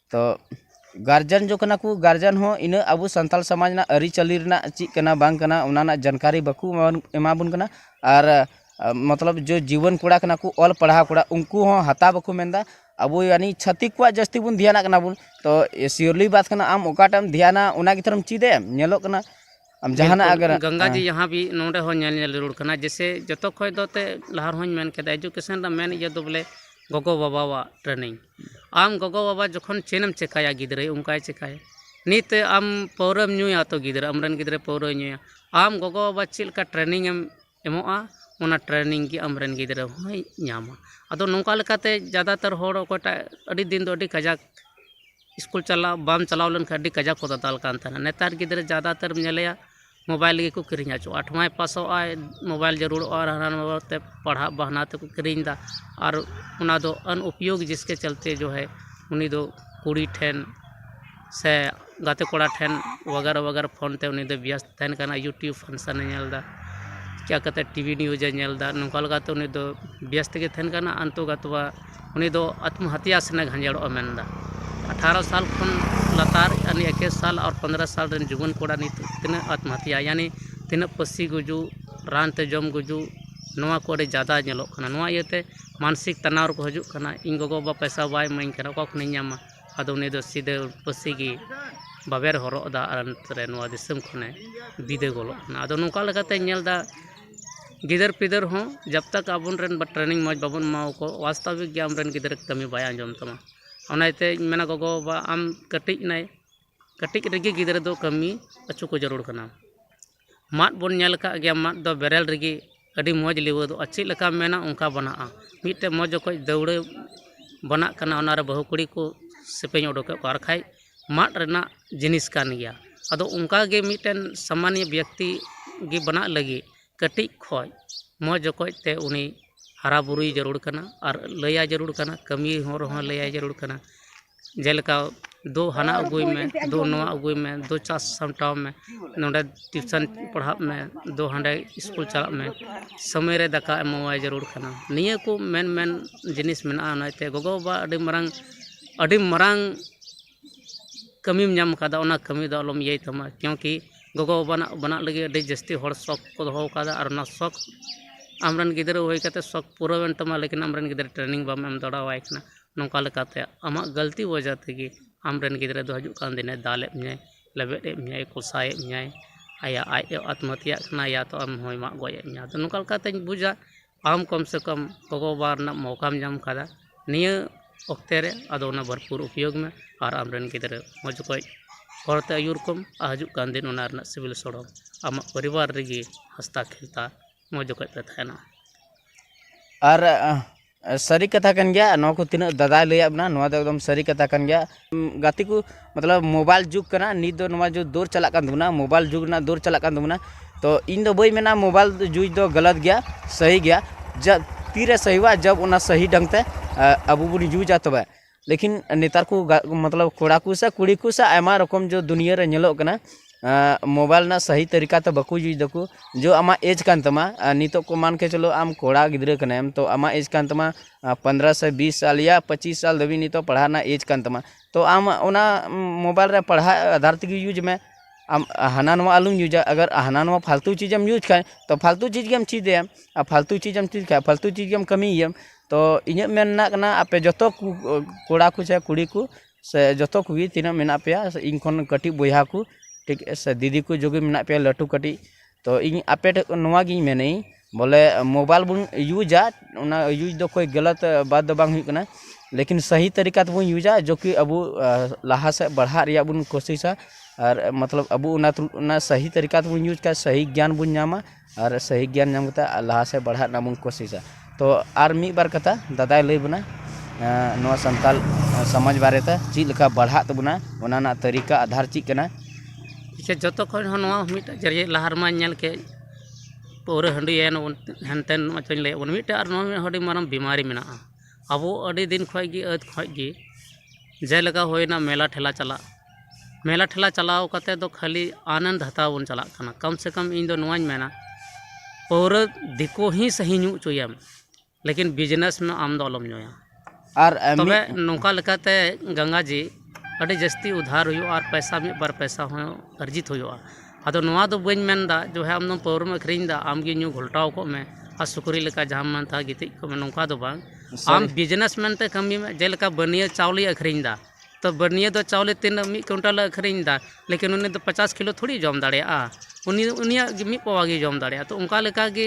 ᱛᱚ ᱜᱟᱨᱡᱮᱱ ᱡᱚ ᱠᱟᱱᱟ ᱠᱚ ᱜᱟᱨᱡᱮᱱ ᱦᱚᱸ ᱤᱱᱟᱹᱜ ᱟᱵᱚ ᱥᱟᱱᱛᱟᱲ ᱥᱚᱢᱟᱡᱽ ᱨᱮᱱᱟᱜ ᱟᱹᱨᱤᱪᱟᱹᱞᱤ ᱨᱮᱱᱟᱜ ᱪᱮᱫ ᱠᱟᱱᱟ ᱵᱟᱝ ᱠᱟᱱᱟ ᱚᱱᱟ ᱨᱮᱱᱟᱜ ᱡᱟᱱᱠᱟᱨᱤ ᱵᱟᱠᱚ ᱮᱢᱟ ᱵᱚᱱ ᱠᱟᱱᱟ ᱟᱨ ᱢᱚᱛᱞᱚᱵ ᱡᱮ ᱡᱩᱣᱟᱹᱱ ᱠᱚᱲᱟ ᱠᱟᱱᱟ ᱠᱚ ᱚᱞ ᱯᱟᱲᱦᱟᱣ ᱠᱚᱲᱟ ᱩᱱᱠᱩ ᱦᱚᱸ ᱦᱟᱛᱟᱣ ᱵᱟᱠᱚ ᱢᱮᱱᱫᱟ ᱟᱵᱚ ᱭᱟᱱᱤ ᱪᱷᱟᱹᱛᱤᱠ ᱠᱚᱣᱟᱜ ᱡᱟᱹᱥᱛᱤ ᱵᱚᱱ ᱫᱷᱮᱭᱟᱱᱟᱜ ᱠᱟᱱᱟ ᱵᱚᱱ ᱛᱚ ᱥᱤᱭᱳᱨᱞᱤ ᱵᱟᱛ ᱠᱟᱱᱟ ᱟᱢ ᱚᱠᱟᱴᱟᱜ ᱮᱢ ᱫᱷᱮᱭᱟᱱᱟ ᱚᱱᱟ ᱜᱮᱛᱚ ᱪᱮᱫ ᱮᱢ ᱧᱮᱞᱚᱜ ᱠᱟᱱᱟ ᱟᱢ ᱡᱟᱦᱟᱱᱟᱜ ᱟᱜᱟᱨ ᱜᱚᱝᱜᱟ ᱡᱤ ᱡᱟᱦᱟᱸ ᱵᱷᱤ ᱱᱚᱰᱮ ᱦᱚᱸ ᱧᱮᱞ ᱧᱮᱞ ᱡᱟᱹᱨᱩᱲ ᱠᱟᱱᱟ ᱡᱮᱭᱥᱮ ᱡᱚᱛᱚ ᱠᱷᱚᱡ ᱫᱚ ᱛᱮ ᱞᱟᱦᱟ ᱨᱮᱦᱚᱧ ᱢᱮᱱ ᱠᱮᱫᱟ ᱮᱰᱩᱠᱮᱥᱮᱱ ᱨᱮ ᱢᱮᱱ ᱤᱭᱟᱹ ᱫᱚ ᱵᱚᱞᱮ ᱜᱚᱜᱚ ᱵᱟᱵᱟᱣᱟᱜ ᱴᱨᱮᱱᱤᱝ ᱟᱢ ᱜᱚᱜᱚ ᱵᱟᱵᱟ ᱡᱚᱠᱷᱚᱱ ᱪᱮᱫ ᱮᱢ ᱪᱤᱠᱟᱹᱭᱟ ᱜᱤᱫᱽᱨᱟᱹ ᱚᱱᱠᱟᱭ ᱪᱤᱠᱟᱹᱭᱟ ᱱᱤᱛ ᱟᱢ ᱯᱟᱹᱣᱨᱟᱹᱢ ᱧᱩᱭᱟ ᱛᱚ ᱜᱤᱫᱽᱨᱟᱹ ᱟᱢ ᱨᱮᱱ ᱜᱤᱫᱽᱨᱟᱹ ᱯᱟᱹᱣᱨᱟᱹᱭ ᱧᱩᱭᱟ ᱟᱢ ᱜᱚᱜᱚ ᱵᱟᱵᱟ ᱪᱮᱫ ᱞᱮᱠᱟ ᱴᱨᱮᱱᱤᱝ ᱮᱢ ᱮᱢᱚᱜᱼᱟ ᱚᱱᱟ ᱴᱨᱮᱱᱤᱝ ᱜᱮ ᱟᱢᱨᱮᱱ ᱜᱤᱫᱽᱨᱟᱹ ᱦᱚᱸᱭ ᱧᱟᱢᱟ ᱟᱫᱚ ᱱᱚᱝᱠᱟ ᱞᱮᱠᱟᱛᱮ ᱡᱟᱫᱟᱛᱚᱨ ᱦᱚᱲ ᱚᱠᱚᱭᱴᱟᱜ ᱟᱹᱰᱤ ᱫᱤᱱ ᱫᱚ ᱟᱹᱰᱤ ᱠᱟᱡᱟᱠ ᱥᱠᱩᱞ ᱪᱟᱞᱟᱣ ᱵᱟᱢ ᱪᱟᱞᱟᱣ ᱞᱮᱱᱠᱷᱟᱱ ᱟᱹᱰᱤ ᱠᱟᱡᱟᱠ ᱠᱚ ᱫᱟᱫᱟᱞ ᱠᱟᱱ ᱛᱟᱦᱮᱱᱟ ᱱᱮᱛᱟᱨ ᱜᱤᱫᱽᱨᱟᱹ ᱡᱟᱫᱟᱛᱚᱨᱮᱢ ᱧᱮᱞᱮᱭᱟ ᱢᱳᱵᱟᱭᱤᱞ ᱜᱮᱠᱚ ᱠᱤᱨᱤᱧ ᱦᱚᱪᱚᱜᱼᱟ ᱟᱴᱷ ᱱᱚᱭ ᱯᱟᱥᱚᱜ ᱟᱭ ᱢᱳᱵᱟᱭᱤᱞ ᱡᱟᱹᱨᱩᱲᱚᱜᱼᱟ ᱟᱨ ᱦᱟᱱᱟ ᱱᱚᱣᱟ ᱛᱮ ᱯᱟᱲᱦᱟᱜ ᱵᱟᱦᱱᱟ ᱛᱮᱠᱚ ᱠᱤᱨᱤᱧᱫᱟ ᱟᱨ ᱚᱱᱟᱫᱚ ᱟᱱ ᱩᱯᱭᱳᱜᱽ ᱡᱤᱥᱠᱮ ᱪᱚᱞᱛᱮ ᱡᱳ ᱦᱮ ᱩᱱᱤᱫᱚ ᱠᱩᱲᱤ ᱴᱷᱮᱱ ᱥᱮ ᱜᱟᱛᱮ ᱠᱚᱲᱟ ᱴᱷᱮᱱ ᱮᱜᱟᱨᱚ ᱮᱜᱟᱨᱚ ᱯᱷᱳᱱ ᱛᱮ ᱩᱱᱤ ᱫᱚᱭ ᱵᱮᱥᱛᱚ ᱛᱟᱦᱮᱱ ᱠᱟᱱᱟ ᱤᱭᱩᱴᱩᱵᱽ ᱯᱷᱟᱱᱥᱮᱱ ᱮ ᱧᱮᱞᱫᱟ ᱪᱮᱠᱟ ᱠᱟᱛᱮᱫ ᱴᱤᱵᱷᱤ ᱱᱤᱭᱩᱡᱽ ᱮ ᱧᱮᱞᱫᱟ ᱱᱚᱝᱠᱟ ᱞᱮᱠᱟᱛᱮ ᱩᱱᱤ ᱫᱚ ᱵᱮᱥ ᱛᱮᱜᱮ ᱛᱟᱦᱮᱱ ᱠᱟᱱᱟ ᱟᱱᱛᱚ ᱜᱟᱛᱣᱟ ᱩᱱᱤ ᱫᱚ ᱟᱛᱢᱚ ᱦᱟᱛᱭᱟ ᱥᱮᱱ ᱮ ᱜᱷᱟᱸᱡᱚᱲᱚᱜᱼᱟ ᱢᱮᱱᱫᱟ ᱟᱴᱷᱟᱨᱚ ᱥᱟᱞ ᱠᱷᱚᱱ ᱞᱟᱛᱟᱨ ᱟᱨ ᱱᱤᱭᱟᱹ ᱮᱠᱩᱥ ᱥᱟᱞ ᱟᱨ ᱯᱚᱸᱫᱽᱨᱚ ᱥᱟᱞ ᱨᱮᱱ ᱡᱩᱣᱟᱹᱱ ᱠᱚᱲᱟ ᱱᱤᱛ ᱛᱤᱱᱟᱹᱜ ᱟᱛᱢᱚ ᱦᱟᱛᱭᱟ ᱭᱟᱱᱤ ᱛᱤᱱᱟᱹᱜ ᱯᱟᱹᱥᱤ ᱜᱩᱡᱩᱜ ᱨᱟᱱ ᱛᱮ ᱡᱚᱢ ᱜᱩᱡᱩᱜ ᱱᱚᱣᱟ ᱠᱚ ᱟᱹᱰᱤ ᱡᱟᱫᱟ ᱧᱮᱞᱚᱜ ᱠᱟᱱᱟ ᱱᱚᱣᱟ ᱤᱭᱟᱹᱛᱮ ᱢᱟᱱᱚᱥᱤᱠ ᱛᱟᱱᱟᱣ ᱨᱮᱠᱚ ᱦᱤᱡᱩᱜ ᱠᱟᱱᱟ ᱤᱧ ᱜᱚᱜᱚᱼᱵᱟᱵᱟ ᱯᱚᱭᱥᱟ ᱵᱟᱭ ᱤᱢᱟᱹᱧ ᱠᱟᱱᱟ ᱚᱠᱟ ᱠᱷᱚᱱᱤᱧ ᱧᱟᱢᱟ ᱟᱫᱚ ᱩᱱᱤ ᱫᱚ ᱥᱤᱫᱟᱹ ᱯᱟᱹᱥᱤ ᱜᱮ ᱵᱟᱵᱮᱨ ᱦᱚᱨᱚᱜ ᱮᱫᱟ ᱟᱨ ᱱᱚᱛᱮ ᱨᱮ ᱱᱚᱣᱟ ᱫᱤᱥᱚᱢ ᱠᱷᱚᱱᱮ ᱵᱤᱫᱟᱹ ᱜᱚᱫᱚᱜ ᱠᱟᱱᱟ ᱟᱫᱚ ᱱᱚᱝᱠᱟ ᱞᱮᱠᱟᱛᱮ ᱧᱮᱞᱫᱟ ᱜᱤᱫᱟᱹᱨ ᱯᱤᱫᱟᱹᱨ ᱦᱚᱸ ᱡᱚᱵᱽ ᱛᱚᱠ ᱟᱵᱚᱱ ᱨᱮᱱ ᱴᱨᱮᱱᱤᱝ ᱢᱚᱡᱽ ᱵᱟᱵᱚᱱ ᱮᱢᱟ ᱠᱚ ᱵᱟᱥᱛᱚᱵᱤᱠ ᱜᱮ ᱟᱢᱨᱮᱱ ᱜᱤᱫᱽᱨᱟᱹ ᱠᱟᱹᱢᱤ ᱵᱟᱭ ᱟᱸᱡᱚᱢ ᱛᱟᱢᱟ ᱚᱱᱟ ᱤᱭᱟᱹᱛᱮ ᱤᱧ ᱢᱮᱱᱟ ᱜᱚᱜᱚᱼᱵᱟᱵᱟ ᱟᱢ ᱠᱟᱹᱴᱤᱡ ᱱᱟᱭ ᱠᱟᱹᱴᱤᱡ ᱨᱮᱜᱮ ᱜᱤᱫᱽᱨᱟᱹ ᱫᱚ ᱠᱟᱹᱢᱤ ᱦᱚᱪᱚ ᱠᱚ ᱡᱟᱹᱨᱩᱲ ᱠᱟᱱᱟ ᱢᱟᱫ ᱵᱚᱱ ᱧᱮᱞ ᱠᱟᱜ ᱜᱮᱭᱟ ᱢᱟᱫ ᱫᱚ ᱵᱮᱨᱮᱞ ᱨᱮᱜᱮ ᱟᱹᱰᱤ ᱢᱚᱡᱽ ᱞᱤᱣᱭᱮᱫᱚᱜᱼᱟ ᱪᱮᱫ ᱞᱮᱠᱟᱢ ᱢᱮᱱᱟ ᱚᱱᱠᱟ ᱵᱮᱱᱟᱜᱼᱟ ᱢᱤᱫᱴᱮᱡ ᱢᱚᱡᱽ ᱚᱠᱚᱡ ᱫᱟᱹᱣᱲᱟᱹ ᱵᱮᱱᱟᱜ ᱠᱟᱱᱟ ᱚᱱᱟᱨᱮ ᱵᱟᱹᱦᱩ ᱠᱩᱲᱤ ᱠᱚ ᱥᱮᱯᱮᱧ ᱚᱰᱚᱠᱮᱜ ᱠᱚᱣᱟ ᱟᱨ ᱠᱷᱟᱡ ᱢᱟᱫ ᱨᱮᱱᱟᱜ ᱡᱤᱱᱤᱥ ᱠᱟᱱ ᱜᱮᱭᱟ ᱟᱫᱚ ᱚᱱᱠᱟ ᱜᱮ ᱢᱤᱫᱴᱮᱱ ᱥᱟᱢᱟᱱᱱᱚ ᱵᱮᱠᱛᱤ ᱜᱮ ᱵᱮᱱᱟᱜ ᱞᱟᱹᱜᱤᱫ ᱠᱟᱹᱴᱤᱡ ᱠᱷᱚᱡ ᱢᱚᱡᱽ ᱚᱠᱚᱡ ᱛᱮ ᱩᱱᱤ ᱦᱟᱨᱟᱼᱵᱩᱨᱩᱭᱮ ᱡᱟᱹᱨᱩᱲ ᱠᱟᱱᱟ ᱟᱨ ᱞᱟᱹᱭᱟᱭ ᱡᱟᱹᱨᱩᱲ ᱠᱟᱱᱟ ᱠᱟᱹᱢᱤ ᱦᱚᱨ ᱦᱚᱸ ᱞᱟᱹᱭᱟᱭ ᱡᱟᱹᱨᱩᱲ ᱠᱟᱱᱟ ᱡᱮᱞᱮᱠᱟ ᱫᱩ ᱦᱟᱱᱟ ᱟᱹᱜᱩᱭ ᱢᱮ ᱫᱩ ᱱᱚᱣᱟ ᱟᱹᱜᱩᱭ ᱢᱮ ᱫᱩ ᱪᱟᱥ ᱥᱟᱢᱴᱟᱣ ᱢᱮ ᱱᱚᱰᱮ ᱴᱤᱭᱩᱥᱚᱱ ᱯᱟᱲᱦᱟᱜ ᱢᱮ ᱫᱩ ᱦᱟᱸᱰᱮ ᱥᱠᱩᱞ ᱪᱟᱞᱟᱜ ᱢᱮ ᱥᱚᱢᱚᱭ ᱨᱮ ᱫᱟᱠᱟ ᱮᱢᱚᱜᱼᱟᱭ ᱡᱟᱹᱨᱩᱲ ᱠᱟᱱᱟ ᱱᱤᱭᱟᱹ ᱠᱚ ᱢᱮᱱ ᱢᱮᱱ ᱡᱤᱱᱤᱥ ᱢᱮᱱᱟᱜᱼᱟ ᱚᱱᱟᱛᱮ ᱜᱚᱜᱚᱼᱵᱟᱵᱟ ᱟᱹᱰᱤ ᱢᱟᱨᱟᱝ ᱟᱹᱰᱤ ᱢᱟᱨᱟᱝ ᱠᱟᱹᱢᱤᱢ ᱧᱟᱢ ᱠᱟᱫᱟ ᱚᱱᱟ ᱠᱟᱹᱢᱤ ᱫᱚ ᱟᱞᱚᱢ ᱤᱭᱟᱹᱭ ᱛᱟᱢᱟ ᱠᱤᱭᱩᱠᱤ ᱜᱚᱜᱚᱼᱵᱟᱵᱟ ᱨᱮᱱᱟᱜ ᱵᱟᱱᱟᱜ ᱞᱟᱹᱜᱤᱫ ᱟᱹᱰᱤ ᱡᱟᱹᱥᱛᱤ ᱦᱚᱲ ᱥᱚᱠ ᱠᱚ ᱫᱚᱦᱚ ᱠᱟᱫᱟ ᱟᱨ ᱚᱱᱟ ᱥᱚᱠ ᱟᱢᱨᱮᱱ ᱜᱤᱫᱽᱨᱟᱹ ᱦᱩᱭ ᱠᱟᱛᱮᱫ ᱥᱚᱠ ᱯᱩᱨᱟᱹᱣᱮᱱ ᱛᱟᱢᱟ ᱞᱮᱠᱤᱱ ᱟᱢᱨᱮᱱ ᱜᱤᱫᱽᱨᱟᱹ ᱴᱨᱮᱱᱤᱝ ᱵᱟᱢ ᱮᱢ ᱫᱟᱲᱮᱣᱟᱭ ᱠᱟᱱᱟ ᱱᱚᱝᱠᱟ ᱞᱮᱠᱟᱛᱮ ᱟᱢᱟᱜ ᱜᱟᱹᱞᱛᱤ ᱵᱟᱡᱟᱣ ᱛᱮᱜᱮ ᱟᱢ ᱨᱮᱱ ᱜᱤᱫᱽᱨᱟᱹ ᱫᱚ ᱦᱤᱡᱩᱜ ᱠᱟᱱ ᱫᱤᱱᱮ ᱫᱟᱞᱮᱫ ᱢᱮᱭᱟᱭ ᱞᱮᱵᱮᱫ ᱮᱫ ᱢᱮᱭᱟᱭ ᱠᱚᱥᱟᱭᱮᱫ ᱢᱮᱭᱟᱭ ᱟᱭᱟᱜ ᱟᱡ ᱮ ᱟᱛᱢᱟ ᱦᱚᱛᱛᱟᱜ ᱠᱟᱱᱟ ᱭᱟ ᱛᱚ ᱟᱢ ᱦᱚᱸᱭ ᱢᱟᱜ ᱜᱚᱡ ᱮᱫ ᱢᱮᱭᱟ ᱟᱫᱚ ᱱᱚᱝᱠᱟ ᱞᱮᱠᱟᱛᱤᱧ ᱵᱩᱡᱟ ᱟᱢ ᱠᱚᱢ ᱥᱮ ᱠᱚᱢ ᱜᱚᱜᱚ ᱵᱟᱵᱟ ᱨᱮᱱᱟᱜ ᱢᱚᱠᱟᱢ ᱧᱟᱢ ᱠᱟᱫᱟ ᱱᱤᱭᱟᱹ ᱚᱠᱛᱮ ᱨᱮ ᱟᱫᱚ ᱚᱱᱟ ᱵᱷᱚᱨᱯᱩᱨ ᱩᱯᱭᱳᱜᱽ ᱢᱮ ᱟᱨ ᱟᱢ ᱨᱮᱱ ᱜᱤᱫᱽᱨᱟᱹ ᱢᱚᱡᱽ ᱚᱠᱚᱡ ᱦᱚᱨ ᱛᱮ ᱟᱹᱭᱩᱨ ᱠᱚᱢ ᱟᱨ ᱦᱤᱡᱩᱜ ᱠᱟᱱ ᱫᱤᱱ ᱚᱱᱟ ᱨᱮᱱᱟᱜ ᱥᱤᱵᱤᱞ ᱥᱚᱲᱚᱢ ᱟᱢᱟᱜ ᱯᱚᱨᱤᱵᱟᱨ ᱨᱮᱜᱮ ᱦᱟᱸᱥᱫᱟ ᱠᱷᱮᱛᱟ ᱢᱚᱡᱽ ᱚᱠᱚᱡ ᱯᱮ ᱛᱟᱦᱮᱱᱟ ᱟᱨ ᱥᱟᱹᱨᱤ ᱠᱟᱛᱷᱟ ᱠᱟᱱ ᱜᱮᱭᱟ ᱱᱚᱣᱟ ᱠᱚ ᱛᱤᱱᱟᱹᱜ ᱫᱟᱫᱟᱭ ᱞᱟᱹᱭᱟᱫ ᱵᱚᱱᱟ ᱱᱚᱣᱟ ᱫᱚ ᱮᱠᱫᱚᱢ ᱥᱟᱹᱨᱤ ᱠᱟᱛᱷᱟ ᱠᱟᱱ ᱜᱮᱭᱟ ᱜᱟᱛᱮ ᱠᱚ ᱢᱚᱛᱞᱚᱵ ᱢᱳᱵᱟᱭᱤᱞ ᱡᱩᱜᱽ ᱠᱟᱱᱟ ᱱᱤᱛ ᱫᱚ ᱱᱚᱣᱟ ᱡᱮ ᱫᱳᱨ ᱪᱟᱞᱟᱜ ᱠᱟᱱ ᱛᱟᱵᱚᱱᱟ ᱢᱳᱵᱟᱭᱤᱞ ᱡᱩᱜᱽ ᱨᱮᱱᱟᱜ ᱫᱳᱨ ᱪᱟᱞᱟᱜ ᱠᱟᱱ ᱛᱟᱵᱚᱱᱟ ᱛᱚ ᱤᱧ ᱫᱚ ᱵᱟᱹᱧ ᱢᱮᱱᱟ ᱢᱳᱵᱟᱭᱤᱞ ᱡᱩᱡᱽ ᱫᱚ ᱜᱟᱞᱟᱛ ᱜᱮᱭᱟ ᱥᱟᱹᱦᱤ ᱜᱮᱭᱟ ᱡᱟᱵᱽ ᱛᱤᱨᱮ ᱥᱟᱹᱦᱤᱣᱟ ᱡᱟᱵᱽ ᱚᱱᱟ ᱥᱟᱹᱦᱤ ᱰᱷᱚᱝ ᱛᱮ ᱟᱵᱚ ᱵᱚᱱ ᱡᱩᱡᱟ ᱛᱚᱵᱮ ᱞᱮᱠᱤᱱ ᱱᱮᱛᱟᱨ ᱠᱚ ᱢᱚᱛᱞᱚᱵ ᱠᱚᱲᱟ ᱠᱚ ᱥᱮ ᱠᱩᱲᱤ ᱠᱚ ᱥᱮ ᱟᱭᱢᱟ ᱨᱚᱠᱚᱢ ᱡᱚ ᱫᱩᱱᱤᱭᱟᱹ ᱨᱮ ᱧᱮᱞᱚᱜ ᱠᱟᱱᱟ ᱢᱳᱵᱟᱭᱤᱞ ᱨᱮᱱᱟᱜ ᱥᱟᱹᱦᱤ ᱛᱟᱹᱨᱤᱠᱟ ᱛᱮ ᱵᱟᱠᱚ ᱤᱭᱩᱡᱽ ᱫᱟᱠᱚ ᱡᱚ ᱟᱢᱟᱜ ᱮᱡᱽ ᱠᱟᱱ ᱛᱟᱢᱟ ᱱᱤᱛᱚᱜ ᱠᱚ ᱢᱟᱱ ᱠᱮ ᱪᱚᱞᱚ ᱟᱢ ᱠᱚᱲᱟ ᱜᱤᱫᱽᱨᱟᱹ ᱠᱟᱱᱟᱢ ᱛᱚ ᱟᱢᱟᱜ ᱮᱡᱽ ᱠᱟᱱ ᱛᱟᱢᱟ ᱯᱚᱱᱨᱚ ᱥᱮ ᱵᱤᱥ ᱥᱟᱞ ᱭᱟ ᱯᱚᱸᱪᱤᱥ ᱥᱟᱞ ᱫᱷᱟᱹᱵᱤᱡ ᱱᱤᱛᱚᱜ ᱯᱟᱲᱦᱟᱜ ᱨᱮᱱᱟᱜ ᱮᱡᱽ ᱠᱟᱱ ᱛᱟᱢᱟ ᱛᱚ ᱟᱢ ᱚᱱᱟ ᱢᱳᱵᱟᱭᱤᱞ ᱨᱮ ᱯᱟᱲᱦᱟᱜ ᱟᱫᱷᱟᱨ ᱛᱮᱜᱮ ᱤᱭᱩᱡᱽ ᱢᱮ ᱟᱢ ᱦᱟᱱᱟ ᱱᱚᱣᱟ ᱟᱞᱚᱢ ᱤᱭᱩᱡᱟ ᱟᱜᱟᱨ ᱦᱟᱱᱟ ᱱᱚᱣᱟ ᱯᱷᱟᱞᱛᱩ ᱪᱤᱡᱽ ᱮᱢ ᱤᱭᱩᱡᱽ ᱠᱷᱟᱱ ᱛᱚ ᱯᱷᱟᱞᱛᱩ ᱪᱤᱡᱽ ᱜᱮᱢ ᱪᱮᱫᱟ ᱟᱨ ᱯᱷᱟᱞᱛᱩ ᱪᱤᱡᱽ ᱮᱢ ᱪᱮᱫ ᱠᱷᱟᱱ ᱯᱷᱟᱞᱛᱩ ᱪᱤᱡᱽ ᱜᱮᱢ ᱠᱟᱹᱢᱤᱭᱟ ᱛᱚ ᱤᱧᱟᱹᱜ ᱢᱮᱱ ᱨᱮᱱᱟᱜ ᱠᱟᱱᱟ ᱟᱯᱮ ᱡᱚᱛᱚ ᱠᱚᱲᱟ ᱠᱚ ᱪᱟᱦᱮ ᱠᱩᱲᱤ ᱠᱚ ᱥᱮ ᱡᱚᱛᱚ ᱠᱚᱜᱮ ᱛᱤᱱᱟᱹᱜ ᱢᱮᱱᱟᱜ ᱯᱮᱭᱟ ᱥᱮ ᱤᱧ ᱠᱷᱚᱱ ᱠᱟᱹᱴᱤᱡ ᱵᱚᱭᱦᱟ ᱠᱚ ᱴᱷᱤᱠ ᱥᱮ ᱫᱤᱫᱤ ᱠᱚ ᱡᱩᱫᱤ ᱢᱮᱱᱟᱜ ᱯᱮᱭᱟ ᱞᱟᱹᱴᱩ ᱠᱟᱹᱴᱤᱡ ᱛᱚ ᱤᱧ ᱟᱯᱮ ᱴᱷᱮᱱ ᱠᱷᱚᱱ ᱱᱚᱣᱟ ᱜᱤᱧ ᱢᱮᱱᱟᱹᱧ ᱵᱚᱞᱮ ᱢᱳᱵᱟᱭᱤᱞ ᱵᱚᱱ ᱤᱭᱩᱡᱟ ᱚᱱᱟ ᱤᱭᱩᱡᱽ ᱫᱚ ᱠᱳᱭ ᱜᱟᱞᱟᱛ ᱵᱟᱛ ᱫᱚ ᱵᱟᱝ ᱦᱩᱭᱩᱜ ᱠᱟᱱᱟ ᱞᱮᱠᱤᱱ ᱥᱟᱹᱦᱤ ᱛᱟᱹᱨᱤᱠᱟ ᱛᱮᱵᱚᱱ ᱤᱭᱩᱡᱟ ᱡᱚ ᱠᱤ ᱟᱵᱚ ᱞᱟᱦᱟ ᱥᱮᱫ ᱵᱟᱲᱦᱟᱜ ᱨᱮᱭᱟᱜ ᱵᱚᱱ ᱠᱳᱥᱤᱥᱟ ᱟᱨ ᱢᱚᱛᱞᱚᱵ ᱟᱵᱚ ᱚᱱᱟ ᱛᱮᱵᱚᱱ ᱚᱱᱟ ᱥᱟᱹᱦᱤ ᱛᱟᱹᱨᱤᱠᱟ ᱛᱮᱵᱚᱱ ᱤᱭᱩᱡᱽ ᱠᱷᱟᱱ ᱥᱟᱹᱦᱤ ᱜᱮᱭᱟᱱ ᱵᱚᱱ ᱧᱟᱢᱟ ᱟᱨ ᱥᱟᱹᱦᱤ ᱜᱮᱭᱟᱱ ᱧᱟᱢ ᱠᱟᱛᱮ ᱞᱟᱦᱟ ᱥᱮᱫ ᱵᱟᱲᱦᱟᱜ ᱨᱮᱱᱟᱜ ᱵᱚᱱ ᱠᱳᱥᱤᱥᱟ ᱛᱚ ᱟᱨ ᱢᱤᱫ ᱵᱟᱨ ᱠᱟᱛᱷᱟ ᱫᱟᱫᱟᱭ ᱞᱟᱹᱭ ᱵᱚᱱᱟ ᱱᱚᱣᱟ ᱥᱟᱱᱛᱟᱞ ᱥᱚᱢᱟᱡᱽ ᱵᱟᱨᱮ ᱛᱮ ᱪᱮᱫ ᱞᱮᱠᱟ ᱵᱟᱲᱦᱟᱜ ᱛᱟᱵᱚᱱᱟ ᱚᱱᱟ ᱨᱮᱱᱟᱜ ᱛᱟᱹᱨᱤᱠᱟ ᱟᱫᱷᱟᱨ ᱪᱮᱫ ᱠᱟᱱᱟ ᱥᱮ ᱡᱚᱛᱚ ᱠᱷᱚᱱ ᱦᱚᱸ ᱱᱚᱣᱟ ᱢᱤᱫᱴᱮᱡ ᱡᱟᱹᱨᱤᱭᱟᱹ ᱞᱟᱦᱟ ᱨᱮᱢᱟᱧ ᱧᱮᱞ ᱠᱮᱫ ᱯᱟᱹᱣᱨᱟᱹ ᱦᱟᱺᱰᱤᱭᱮᱱ ᱵᱚᱱ ᱦᱮᱱ ᱛᱮᱱ ᱢᱟᱪᱚᱧ ᱞᱟᱹᱭᱟᱫ ᱵᱚᱱ ᱢᱤᱫᱴᱮᱡ ᱟᱨ ᱱᱚᱣᱟ ᱦᱚᱸ ᱟᱹᱰᱤ ᱢᱟᱨᱟᱝ ᱵᱤᱢᱟᱨᱤ ᱢᱮᱱᱟᱜᱼᱟ ᱟᱵᱚ ᱟᱹᱰᱤ ᱫᱤᱱ ᱠᱷᱚᱡ ᱜᱮ ᱟᱹᱫ ᱠᱷᱚᱡ ᱜᱮ ᱡᱮᱞᱮᱠᱟ ᱦᱩᱭᱱᱟ ᱢᱮᱞᱟ ᱴᱷᱮᱞᱟ ᱪᱟᱞᱟᱜ ᱢᱮᱞᱟ ᱴᱷᱮᱞᱟ ᱪᱟᱞᱟᱣ ᱠᱟᱛᱮᱫ ᱫᱚ ᱠᱷᱟᱹᱞᱤ ᱟᱱᱚᱱᱫᱽ ᱦᱟᱛᱟᱣ ᱵᱚᱱ ᱪᱟᱞᱟᱜ ᱠᱟᱱᱟ ᱠᱚᱢ ᱥᱮ ᱠᱚᱢ ᱤᱧ ᱫᱚ ᱱᱚᱣᱟᱧ ᱢᱮᱱᱟ ᱯᱟᱹᱣᱨᱟᱹ ᱫᱤᱠᱩ ᱦᱤᱸᱥ ᱥᱟᱹᱦᱤ ᱧᱩ ᱦᱚᱪᱚᱭᱮᱢ ᱞᱮᱠᱤᱱ ᱵᱤᱡᱽᱱᱮᱥ ᱢᱟ ᱟᱢ ᱫᱚ ᱟᱞᱚᱢ ᱧᱩᱭᱟ ᱟᱨ ᱛᱚᱵᱮ ᱱᱚᱝᱠᱟ ᱞᱮᱠᱟᱛᱮ ᱜᱚᱝᱜᱟ ᱡᱤ ᱟᱹᱰᱤ ᱡᱟᱹᱥᱛᱤ ᱩᱫᱷᱟᱹᱨ ᱦᱩᱭᱩᱜᱼᱟ ᱟᱨ ᱯᱚᱭᱥᱟ ᱢᱤᱫ ᱵᱟᱨ ᱯᱚᱭᱥᱟ ᱦᱚᱸ ᱟᱨᱡᱤᱛ ᱦᱩᱭᱩᱜᱼᱟ ᱟᱫᱚ ᱱᱚᱣᱟ ᱫᱚ ᱵᱟᱹᱧ ᱢᱮᱱᱫᱟ ᱡᱮ ᱦᱮᱸ ᱟᱢ ᱫᱚ ᱯᱟᱹᱣᱨᱟᱹᱢ ᱟᱹᱠᱷᱨᱤᱧᱫᱟ ᱟᱢ ᱜᱮ ᱧᱩ ᱜᱷᱚᱞᱴᱟᱣ ᱠᱚᱜ ᱢᱮ ᱟᱨ ᱥᱩᱠᱨᱤ ᱞᱮᱠᱟ ᱡᱟᱦᱟᱸ ᱢᱟᱱ ᱛᱟᱦᱟᱸ ᱜᱤᱛᱤᱡ ᱠᱚᱜ ᱢᱮ ᱱᱚᱝᱠᱟ ᱫᱚ ᱵᱟᱝ ᱟᱢ ᱵᱤᱡᱽᱱᱮᱥ ᱢᱮᱱᱛᱮ ᱠᱟᱹᱢᱤ ᱢᱮ ᱡᱮᱞᱮᱠᱟ ᱵᱟᱹᱱᱤᱭᱟᱹ ᱪᱟᱣᱞᱮ ᱟᱹᱠᱷᱨᱤᱧᱫᱟ ᱛᱚ ᱵᱟᱹᱱᱤᱭᱟᱹ ᱫᱚ ᱪᱟᱣᱞᱮ ᱛᱤᱱᱟᱹᱜ ᱢᱤᱫ ᱠᱩᱭᱱᱴᱟᱞᱮ ᱟᱹᱠᱷᱨᱤᱧᱫᱟ ᱞᱮᱠᱤᱱ ᱩᱱᱤ ᱫᱚ ᱯᱚᱪᱟᱥ ᱠᱤᱞᱳ ᱛᱷᱚᱲᱤ ᱡᱚᱢ ᱫᱟᱲᱮᱭᱟᱜᱼᱟ ᱩᱱᱤ ᱩᱱᱤᱭᱟᱜ ᱜᱮ ᱢᱤᱫ ᱯᱚᱣᱟ ᱜᱮ ᱡᱚᱢ ᱫᱟᱲᱮᱭᱟᱜᱼᱟ ᱛᱚ ᱚᱱᱠᱟ ᱞᱮᱠᱟᱜᱮ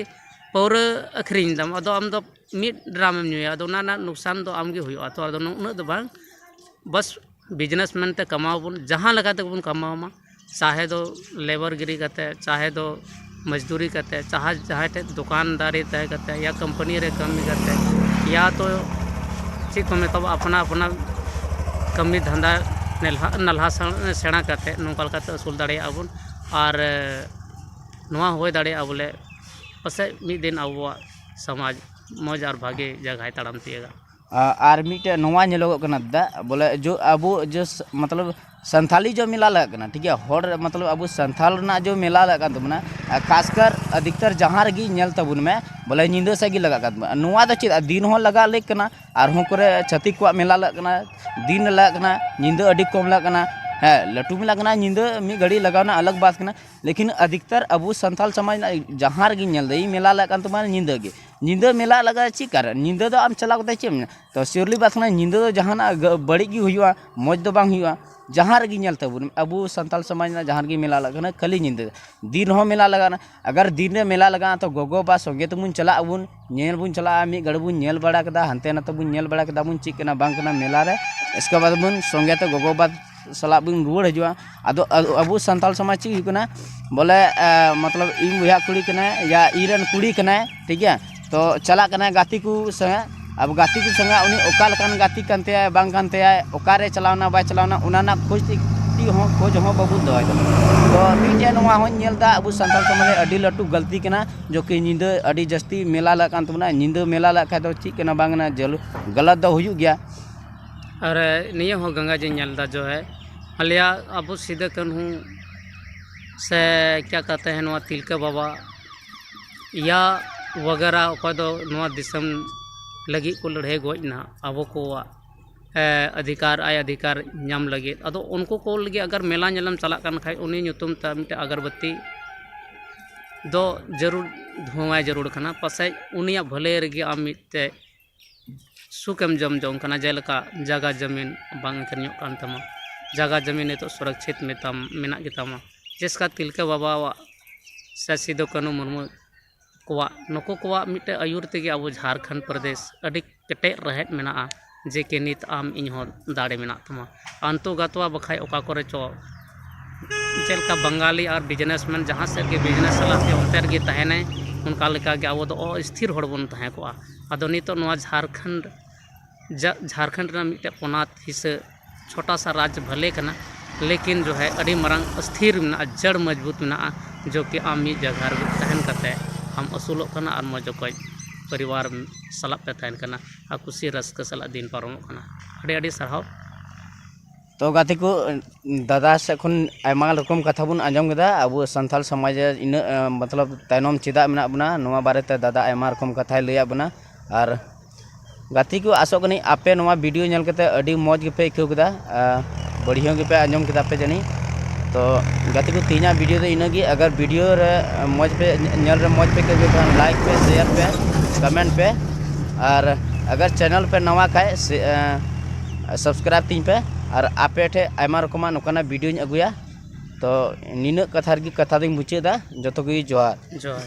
ᱯᱟᱹᱣᱨᱟᱹ ᱟᱹᱠᱷᱨᱤᱧ ᱫᱟᱢ ᱟᱫᱚ ᱟᱢ ᱫᱚ ᱢᱤᱫ ᱰᱨᱟᱢ ᱮᱢ ᱧᱩᱭᱟ ᱟᱫᱚ ᱚᱱᱟ ᱨᱮᱱᱟᱜ ᱞᱳᱠᱥᱟᱱ ᱫᱚ ᱟᱢᱜᱮ ᱦᱩᱭᱩᱜᱼᱟ ᱛᱚ ᱟᱫᱚ ᱩᱱᱟᱹᱜ ᱫᱚ ᱵᱟᱝ ᱵᱟᱥ ᱵᱤᱡᱽᱱᱮᱥ ᱢᱮᱱᱛᱮ ᱠᱟᱢᱟᱣ ᱵᱚᱱ ᱡᱟᱦᱟᱸ ᱞᱮᱠᱟ ᱛᱮᱜᱮ ᱵᱚᱱ ᱠᱟᱢᱟᱣ ᱢᱟ ᱪᱟᱦᱮ ᱫᱚ ᱞᱮᱵᱟᱨ ᱜᱤᱨᱤ ᱠᱟᱛᱮᱫ ᱪᱟᱦᱮ ᱫᱚ ᱢᱚᱡᱽᱫᱩᱨᱤ ᱠᱟᱛᱮᱫ ᱪᱟᱦᱮ ᱡᱟᱦᱟᱸᱭ ᱴᱷᱮᱱ ᱫᱚᱠᱟᱱᱫᱟᱨᱤ ᱛᱟᱦᱮᱸ ᱠᱟᱛᱮᱫ ᱤᱭᱟ ᱠᱳᱢᱯᱟᱱᱤ ᱨᱮ ᱠᱟᱹᱢᱤ ᱠᱟᱛᱮᱫ ᱤᱭᱟ ᱛᱚ ᱪᱮᱫ ᱠᱚ ᱢᱮᱛᱟᱣᱟᱜ ᱟᱯᱱᱟ ᱟᱯᱱᱟ ᱠᱟᱹᱢᱤ ᱫᱷᱟᱱᱫᱟ ᱱᱮᱞᱦᱟ ᱱᱟᱞᱦᱟ ᱥᱮᱬᱟ ᱠᱟᱛᱮᱫ ᱱᱚᱝᱠᱟ ᱞᱮᱠᱟᱛᱮ ᱟᱹᱥᱩᱞ ᱫᱟᱲᱮᱭᱟᱜᱼᱟ ᱵᱚᱱ ᱟᱨ ᱱᱚᱣᱟ ᱦᱩᱭ ᱫᱟᱲᱮᱭᱟᱜᱼᱟ ᱵᱚᱞᱮ ᱯᱟᱥᱮᱡ ᱢᱤᱫ ᱫᱤᱱ ᱟᱵᱚᱣᱟᱜ ᱥᱚᱢᱟᱡᱽ ᱢᱚᱡᱽ ᱟᱨ ᱵᱷᱟᱜᱮ ᱡᱟᱭᱜᱟᱭ ᱛᱟᱲᱟᱢ ᱛᱤᱭᱟᱹᱜᱟ ᱟᱨ ᱢᱤᱫᱴᱮᱡ ᱱᱚᱣᱟ ᱧᱮᱞᱚᱜᱚᱜ ᱠᱟᱱᱟ ᱫᱟᱫᱟ ᱵᱚᱞᱮ ᱡᱚ ᱟᱵᱚ ᱡᱚᱥ ᱢᱚᱛᱞᱚᱵ ᱥᱟᱱᱛᱷᱟᱞᱤ ᱡᱚ ᱢᱮᱞᱟ ᱞᱟᱜᱟᱜ ᱠᱟᱱᱟ ᱴᱷᱤᱠ ᱜᱮᱭᱟ ᱦᱚᱲ ᱢᱚᱛᱞᱚᱵ ᱟᱵᱚ ᱥᱟᱱᱛᱷᱟᱞ ᱨᱮᱱᱟᱜ ᱡᱚ ᱢᱮᱞᱟ ᱞᱟᱜᱟᱜ ᱠᱟᱱ ᱛᱟᱵᱚᱱᱟ ᱟᱨ ᱠᱷᱟᱥᱠᱟᱨ ᱟᱫᱷᱤᱠᱛᱟᱨ ᱡᱟᱦᱟᱸ ᱨᱮᱜᱮ ᱧᱮᱞ ᱛᱟᱵᱚᱱ ᱢᱮ ᱵᱚᱞᱮ ᱧᱤᱫᱟᱹ ᱥᱮᱡ ᱜᱮ ᱞᱟᱜᱟᱜ ᱠᱟᱱ ᱛᱟᱵᱚᱱᱟ ᱱᱚᱣᱟ ᱫᱚ ᱪᱮᱫ ᱫᱤᱱ ᱦᱚᱸ ᱞᱟᱜᱟᱣ ᱞᱮᱠ ᱠᱟᱱᱟ ᱟᱨᱦᱚᱸ ᱠᱚᱨᱮ ᱪᱷᱟᱹᱛᱤᱠ ᱠᱚᱣᱟᱜ ᱢᱮᱞᱟ ᱞᱟᱜᱟᱜ ᱠᱟᱱᱟ ᱫᱤᱱ ᱨᱮ ᱞᱟᱜᱟᱜ ᱠᱟᱱᱟ ᱧᱤᱫᱟᱹ ᱟᱹᱰᱤ ᱠᱚᱢ ᱞᱟᱜᱟᱜ ᱠᱟᱱᱟ ᱦᱮᱸ ᱞᱟᱹᱴᱩ ᱢᱮᱞᱟ ᱠᱟᱱᱟ ᱧᱤᱫᱟᱹ ᱢᱤᱫ ᱜᱷᱟᱹᱲᱤᱡ ᱞᱟᱜᱟᱣ ᱨᱮᱱᱟᱜ ᱟᱞᱟᱜᱽ ᱵᱟᱛ ᱠᱟᱱᱟ ᱞᱮᱠᱤᱱ ᱟᱫᱷᱤᱠᱛᱟᱨ ᱟᱵᱚ ᱥᱟᱱᱛᱷᱟᱞ ᱥᱚᱢᱟᱡᱽ ᱨᱮᱱᱟᱜ ᱡᱟᱦᱟᱸ ᱨᱮᱜᱮᱧ ᱧᱮᱞᱫᱟ ᱤᱧ ᱢᱮᱞᱟ ᱞᱟᱜᱟᱜ ᱠᱟᱱ ᱛᱟᱵᱚᱱᱟ ᱧᱤᱫᱟᱹ ᱜᱮ ᱧᱤᱫᱟᱹ ᱢᱮᱞᱟ ᱞᱟᱜᱟᱜᱼᱟ ᱪᱮᱫ ᱠᱟᱨᱮ ᱧᱤᱫᱟᱹ ᱫᱚ ᱟᱢ ᱪᱟᱞᱟᱣ ᱠᱟᱛᱮ ᱪᱮᱫ ᱮᱢ ᱧᱮᱞᱟ ᱛᱚ ᱥᱤᱣᱞᱤ ᱵᱟᱥ ᱨᱮᱱᱟᱜ ᱧᱤᱫᱟᱹ ᱫᱚ ᱡᱟᱦᱟᱱᱟᱜ ᱵᱟᱹᱲᱤᱡ ᱜᱮ ᱦᱩᱭᱩᱜᱼᱟ ᱢᱚᱡᱽ ᱫᱚ ᱵᱟᱝ ᱦᱩᱭᱩᱜᱼᱟ ᱡᱟᱦᱟᱸ ᱨᱮᱜᱮ ᱧᱮᱞ ᱛᱟᱵᱚᱱ ᱟᱵᱚ ᱥᱟᱱᱛᱟᱲ ᱥᱚᱢᱟᱡᱽ ᱨᱮᱱᱟᱜ ᱡᱟᱦᱟᱸ ᱨᱮᱜᱮ ᱢᱮᱞᱟ ᱞᱟᱜᱟᱜ ᱠᱟᱱᱟ ᱠᱷᱟᱹᱞᱤ ᱧᱤᱫᱟᱹ ᱫᱤᱱ ᱨᱮᱦᱚᱸ ᱢᱮᱞᱟ ᱞᱟᱜᱟᱜᱼᱟ ᱟᱜᱟᱨ ᱫᱤᱱ ᱨᱮ ᱢᱮᱞᱟ ᱞᱟᱜᱟᱜᱼᱟ ᱛᱚ ᱜᱚᱜᱚ ᱵᱟᱵᱟ ᱥᱚᱸᱜᱮ ᱛᱮᱵᱚᱱ ᱪᱟᱞᱟᱜ ᱟᱵᱚᱱ ᱧᱮᱞ ᱵᱚᱱ ᱪᱟᱞᱟᱜᱼᱟ ᱢᱤᱫ ᱜᱷᱟᱹᱲᱤᱡ ᱵᱚᱱ ᱧᱮᱞ ᱵᱟᱲᱟ ᱠᱮᱫᱟ ᱦᱟᱱᱛᱮ ᱱᱟᱛᱮ ᱵᱚᱱ ᱧᱮᱞ ᱵᱟᱲᱟ ᱠᱮᱫᱟ ᱵᱚᱱ ᱪᱮᱫ ᱠᱟᱱᱟ ᱵᱟᱝ ᱠᱟᱱᱟ ᱢᱮᱞᱟ ᱨᱮ ᱮᱥᱠᱮᱵᱟᱫ ᱵᱚᱱ ᱥᱚᱸᱜᱮ ᱛᱮ ᱜᱚᱜᱚ ᱵᱟᱵᱟ ᱥᱟᱞᱟᱜ ᱵᱚᱱ ᱨᱩᱣᱟᱹᱲ ᱦᱤᱡᱩᱜᱼᱟ ᱟᱫᱚ ᱟᱵᱚ ᱥᱟᱱᱛᱟᱲ ᱥᱚᱢᱟᱡᱽ ᱪᱮᱫ ᱦᱩᱭᱩᱜ ᱠᱟᱱᱟ ᱵᱚᱞᱮ ᱢᱚᱛᱞᱚᱵ ᱤᱧ ᱵᱚᱭᱦᱟ ᱠᱩᱲᱤ ᱠᱟᱱᱟᱭ ᱭᱟ ᱤᱧ ᱨᱮᱱ ᱠᱩᱲᱤ ᱠᱟᱱᱟᱭ ᱴᱷᱤᱠ ᱜᱮᱭᱟ ᱛᱚ ᱪᱟᱞᱟᱜ ᱠᱟᱱᱟᱭ ᱜᱟᱛᱮ ᱠᱚ ᱥᱚᱸᱜᱮ ᱟᱵᱚ ᱜᱟᱛᱮ ᱠᱚ ᱥᱚᱸᱜᱮ ᱩᱱᱤ ᱚᱠᱟ ᱞᱮᱠᱟᱱ ᱜᱟᱛᱮ ᱠᱟᱱ ᱛᱟᱭᱟᱭ ᱵᱟᱝ ᱠᱟᱱ ᱛᱟᱭᱟᱭ ᱚᱠᱟᱨᱮ ᱪᱟᱞᱟᱣᱱᱟ ᱵᱟᱭ ᱪᱟᱞᱟᱣᱱᱟ ᱚᱱᱟ ᱨᱮᱱᱟᱜ ᱠᱷᱚᱡᱽ ᱛᱮᱜᱮ ᱠᱟᱹᱴᱤᱡ ᱦᱚᱸ ᱠᱷᱚᱡᱽ ᱦᱚᱸ ᱵᱟᱵᱚᱱ ᱫᱚᱦᱚᱭ ᱫᱟ ᱛᱚ ᱢᱤᱫᱴᱮᱡ ᱱᱚᱣᱟ ᱦᱚᱸᱧ ᱧᱮᱞᱫᱟ ᱟᱵᱚ ᱥᱟᱱᱛᱟᱲ ᱥᱚᱢᱟᱡᱽ ᱨᱮ ᱟᱹᱰᱤ ᱞᱟᱹᱴᱩ ᱜᱟᱹᱞᱛᱤ ᱠᱟᱱᱟ ᱡᱚ ᱠᱤ ᱧᱤᱫᱟᱹ ᱟᱹᱰᱤ ᱡᱟᱹᱥᱛᱤ ᱢᱮᱞᱟ ᱞᱟᱜᱟᱜ ᱠᱟᱱ ᱛᱟᱵᱚᱱᱟ ᱧᱤᱫᱟᱹ ᱢᱮᱞᱟ ᱞᱟᱜᱟᱜ ᱠᱷᱟᱡ ᱫᱚ ᱪᱮᱫ ᱠᱟᱱᱟ ᱵᱟᱝ ᱠᱟᱱᱟ ᱡᱟᱹᱞᱩ ᱜᱟᱞᱟᱛ ᱫᱚ ᱦᱩᱭᱩᱜ ᱜᱮᱭᱟ ᱟᱨ ᱱᱤᱭᱟᱹ ᱦᱚᱸ ᱜᱚᱝᱜᱟ ᱡᱤᱧ ᱧᱮᱞ ᱮᱫᱟ ᱡᱚ ᱦᱮᱸ ᱟᱞᱮᱭᱟᱜ ᱟᱵᱚ ᱥᱤᱫᱩ ᱠᱟᱹᱱᱦᱩ ᱥᱮ ᱠᱮᱭᱟ ᱠᱟᱦᱛᱮ ᱦᱮᱸ ᱱᱚᱣᱟ ᱛᱤᱞᱠᱟᱹ ᱵᱟᱵᱟ ᱤᱭᱟ ᱵᱟᱜᱮᱨᱟ ᱚᱠᱚᱭ ᱫᱚ ᱱᱚᱣᱟ ᱫᱤᱥᱚᱢ ᱞᱟᱹᱜᱤᱫ ᱠᱚ ᱞᱟᱹᱲᱦᱟᱹᱭ ᱜᱚᱡ ᱮᱱᱟ ᱟᱵᱚ ᱠᱚᱣᱟᱜ ᱚᱫᱷᱤᱠᱟᱨ ᱟᱭ ᱚᱫᱷᱤᱠᱟᱨ ᱧᱟᱢ ᱞᱟᱹᱜᱤᱫ ᱟᱫᱚ ᱩᱱᱠᱩ ᱠᱚ ᱞᱟᱹᱜᱤᱫ ᱟᱜᱚᱨ ᱢᱮᱞᱟ ᱧᱮᱞᱮᱢ ᱪᱟᱞᱟᱜ ᱠᱟᱱ ᱠᱷᱟᱱ ᱩᱱᱤ ᱧᱩᱛᱩᱢ ᱛᱮ ᱢᱤᱫᱴᱮᱱ ᱟᱜᱚᱨᱵᱟᱹᱛᱤ ᱫᱚ ᱡᱟᱹᱨᱩᱲ ᱫᱷᱩᱶᱟᱭ ᱡᱟᱹᱨᱩᱲ ᱠᱟᱱᱟ ᱯᱟᱥᱮᱡ ᱩᱱᱤᱭᱟᱜ ᱵᱷᱟᱹᱞᱟᱹᱭ ᱨᱮᱜᱮ ᱟᱢ ᱢᱤᱫᱴᱮᱱ ᱥᱩᱠ ᱮᱢ ᱡᱚᱢ ᱡᱚᱝ ᱠᱟᱱᱟ ᱡᱮᱞᱮᱠᱟ ᱡᱟᱭᱜᱟ ᱡᱚᱢᱤᱱ ᱵᱟᱝ ᱟᱹᱠᱷᱨᱤᱧᱚᱜ ᱠᱟᱱ ᱛᱟᱢᱟ ᱡᱟᱭᱜᱟ ᱡᱚᱢᱤᱱ ᱱᱤᱛᱚᱜ ᱥᱩᱨᱚᱠᱠᱷᱤᱛ ᱢᱮᱛᱟᱢ ᱢᱮᱱᱟᱜ ᱜᱮᱛᱟᱢᱟ ᱡᱮᱥᱠᱟ ᱛᱤᱞᱠᱟᱹ ᱵᱟᱵᱟᱣᱟᱜ ᱥᱮ ᱥᱤᱫᱩ ᱠᱟᱹᱱᱦᱩ ᱢᱩᱨᱢᱩ ᱠᱚᱣᱟᱜ ᱱᱩᱠᱩ ᱠᱚᱣᱟᱜ ᱢᱤᱫᱴᱮᱱ ᱟᱹᱭᱩᱨ ᱛᱮᱜᱮ ᱟᱵᱚ ᱡᱷᱟᱲᱠᱷᱚᱸᱰ ᱯᱨᱚᱫᱮᱥ ᱟᱹᱰᱤ ᱠᱮᱴᱮᱡ ᱨᱮᱦᱮᱫ ᱢᱮᱱᱟᱜᱼᱟ ᱡᱮᱠᱤ ᱱᱤᱛ ᱟᱢ ᱤᱧ ᱦᱚᱸ ᱫᱟᱲᱮ ᱢᱮᱱᱟᱜ ᱛᱟᱢᱟ ᱟᱱᱛᱚ ᱜᱟᱛᱣᱟ ᱵᱟᱠᱷᱟᱱ ᱚᱠᱟ ᱠᱚᱨᱮ ᱪᱚ ᱪᱮᱫ ᱞᱮᱠᱟ ᱵᱟᱝᱜᱟᱞᱤ ᱟᱨ ᱵᱤᱡᱽᱱᱮᱥ ᱢᱮᱱ ᱡᱟᱦᱟᱸ ᱥᱮᱫ ᱜᱮ ᱵᱤᱡᱽᱱᱮᱥ ᱥᱟᱞᱟᱜ ᱛᱮ ᱚᱱᱛᱮ ᱨᱮᱜᱮ ᱛᱟᱦᱮᱱᱟᱭ ᱚᱱᱠᱟ ᱞᱮᱠᱟ ᱜᱮ ᱟᱵᱚ ᱫᱚ ᱚᱥᱛᱷᱤᱨ ᱦᱚᱲ ᱵᱚᱱ ᱛᱟᱦᱮᱸ ᱠᱚᱜᱼᱟ ᱟᱫᱚ ᱱᱤᱛᱚᱜ ᱱᱚᱣᱟ ᱡᱷᱟᱲᱠᱷᱚᱸᱰ ᱡᱟᱜ ᱡᱷᱟᱲᱠᱷᱚᱸᱰ ᱨᱮᱱᱟᱜ ᱢᱤᱫᱴᱮᱱ ᱯᱚᱱᱚᱛ ᱦᱤᱥᱟᱹ ᱪᱷᱳᱴᱟ ᱥᱟ ᱨᱟᱡᱽ ᱵᱷᱟᱞᱮ ᱠᱟᱱᱟ ᱞᱮᱠᱤᱱ ᱡᱚ ᱦᱮ ᱟᱹᱰᱤ ᱢᱟᱨᱟᱝ ᱚᱥᱛᱷᱤᱨ ᱢᱮᱱᱟᱜᱼᱟ ᱡᱟᱹᱲ ᱢᱚᱡᱽᱵᱩᱛ ᱢᱮᱱᱟᱜᱼᱟ ᱡᱚ ᱠᱤ ᱟᱢ ᱢᱤᱫ ᱡᱟᱭᱜᱟ ᱨᱮᱜᱮ ᱛᱟᱦᱮᱱ ᱠᱟᱛᱮᱫ ᱟᱢ ᱟᱹᱥᱩᱞᱚᱜ ᱠᱟᱱᱟ ᱟᱨ ᱢᱚᱡᱽ ᱚᱠᱚᱡ ᱯᱚᱨᱤᱵᱟᱨ ᱥᱟᱞᱟᱜ ᱯᱮ ᱛᱟᱦᱮᱱ ᱠᱟᱱᱟ ᱟᱨ ᱠᱩᱥᱤ ᱨᱟᱹᱥᱠᱟᱹ ᱥᱟᱞᱟᱜ ᱫᱤᱱ ᱯᱟᱨᱚᱢᱚᱜ ᱠᱟᱱᱟ ᱟᱹᱰᱤ ᱟᱹᱰᱤ ᱥᱟᱨᱦᱟᱣ ᱛᱚ ᱜᱟᱛᱮ ᱠᱚ ᱫᱟᱫᱟ ᱥᱮᱫ ᱠᱷᱚᱱ ᱟᱭᱢᱟ ᱨᱚᱠᱚᱢ ᱠᱟᱛᱷᱟ ᱵᱚᱱ ᱟᱸᱡᱚᱢ ᱠᱮᱫᱟ ᱟᱵᱚ ᱥᱟᱱᱛᱟᱲ ᱥᱚᱢᱟᱡᱽ ᱨᱮ ᱤᱱᱟᱹᱜ ᱢᱚᱛᱞᱚᱵ ᱛᱟᱭᱱᱚᱢ ᱪᱮᱫᱟᱜ ᱢᱮᱱᱟᱜ ᱵᱚᱱᱟ ᱱᱚᱣᱟ ᱵᱟᱨᱮᱛᱮ ᱫᱟᱫᱟ ᱟᱭᱢᱟ ᱨᱚᱠᱚᱢ ᱠᱟᱛᱷᱟᱭ ᱞᱟᱹᱭᱟᱫ ᱵᱚᱱᱟ ᱟᱨ ᱜᱟᱛᱮ ᱠᱚ ᱟᱥᱚᱜ ᱠᱟᱹᱱᱟᱹᱧ ᱟᱯᱮ ᱱᱚᱣᱟ ᱵᱷᱤᱰᱤᱭᱳ ᱧᱮᱞ ᱠᱟᱛᱮ ᱟᱹᱰᱤ ᱢᱚᱡᱽ ᱜᱮᱯᱮ ᱟᱹᱭᱠᱟᱹᱣ ᱠᱮᱫᱟ ᱵᱟᱹᱲᱤᱡ ᱜᱮᱯᱮ ᱟᱸᱡᱚᱢ ᱠᱮᱫᱟ ᱯᱮ ᱡᱟᱹᱱᱤᱡ ᱛᱚ ᱜᱟᱛᱮ ᱠᱚ ᱛᱮᱦᱮᱧᱟᱜ ᱵᱷᱤᱰᱤᱭᱳ ᱫᱚ ᱤᱱᱟᱹ ᱜᱮ ᱟᱜᱟᱨ ᱵᱷᱤᱰᱤᱭᱳ ᱨᱮ ᱢᱚᱡᱽ ᱯᱮ ᱧᱮᱞ ᱨᱮ ᱢᱚᱡᱽ ᱯᱮ ᱟᱹᱭᱠᱟᱹᱣ ᱠᱮᱫᱟ ᱞᱟᱭᱤᱠ ᱯᱮ ᱥᱮᱭᱟᱨ ᱯᱮ ᱠᱚᱢᱮᱱᱴ ᱯᱮ ᱟᱨ ᱟᱜᱟᱨ ᱪᱮᱱᱮᱞ ᱯᱮ ᱱᱟᱣᱟ ᱠᱷᱟᱡ ᱥᱟᱵᱥᱠᱨᱟᱭᱤᱵᱽ ᱛᱤᱧ ᱯᱮ ᱟᱨ ᱟᱯᱮ ᱴᱷᱮᱡ ᱟᱭᱢᱟ ᱨᱚᱠᱚᱢᱟᱜ ᱱᱚᱝᱠᱟᱱᱟᱜ ᱵᱷᱤᱰᱤᱭᱳᱧ ᱟᱹᱜᱩᱭᱟ ᱛᱚ ᱱᱤᱱᱟᱹᱜ ᱠᱟᱛᱷᱟ ᱨᱮᱜᱮ ᱠᱟᱛᱷᱟ ᱫᱚᱧ ᱢᱩᱪᱟᱹᱫᱟ ᱡᱚᱛᱚ ᱜᱮ ᱡᱚᱦᱟᱨ ᱡᱚᱦᱟᱨ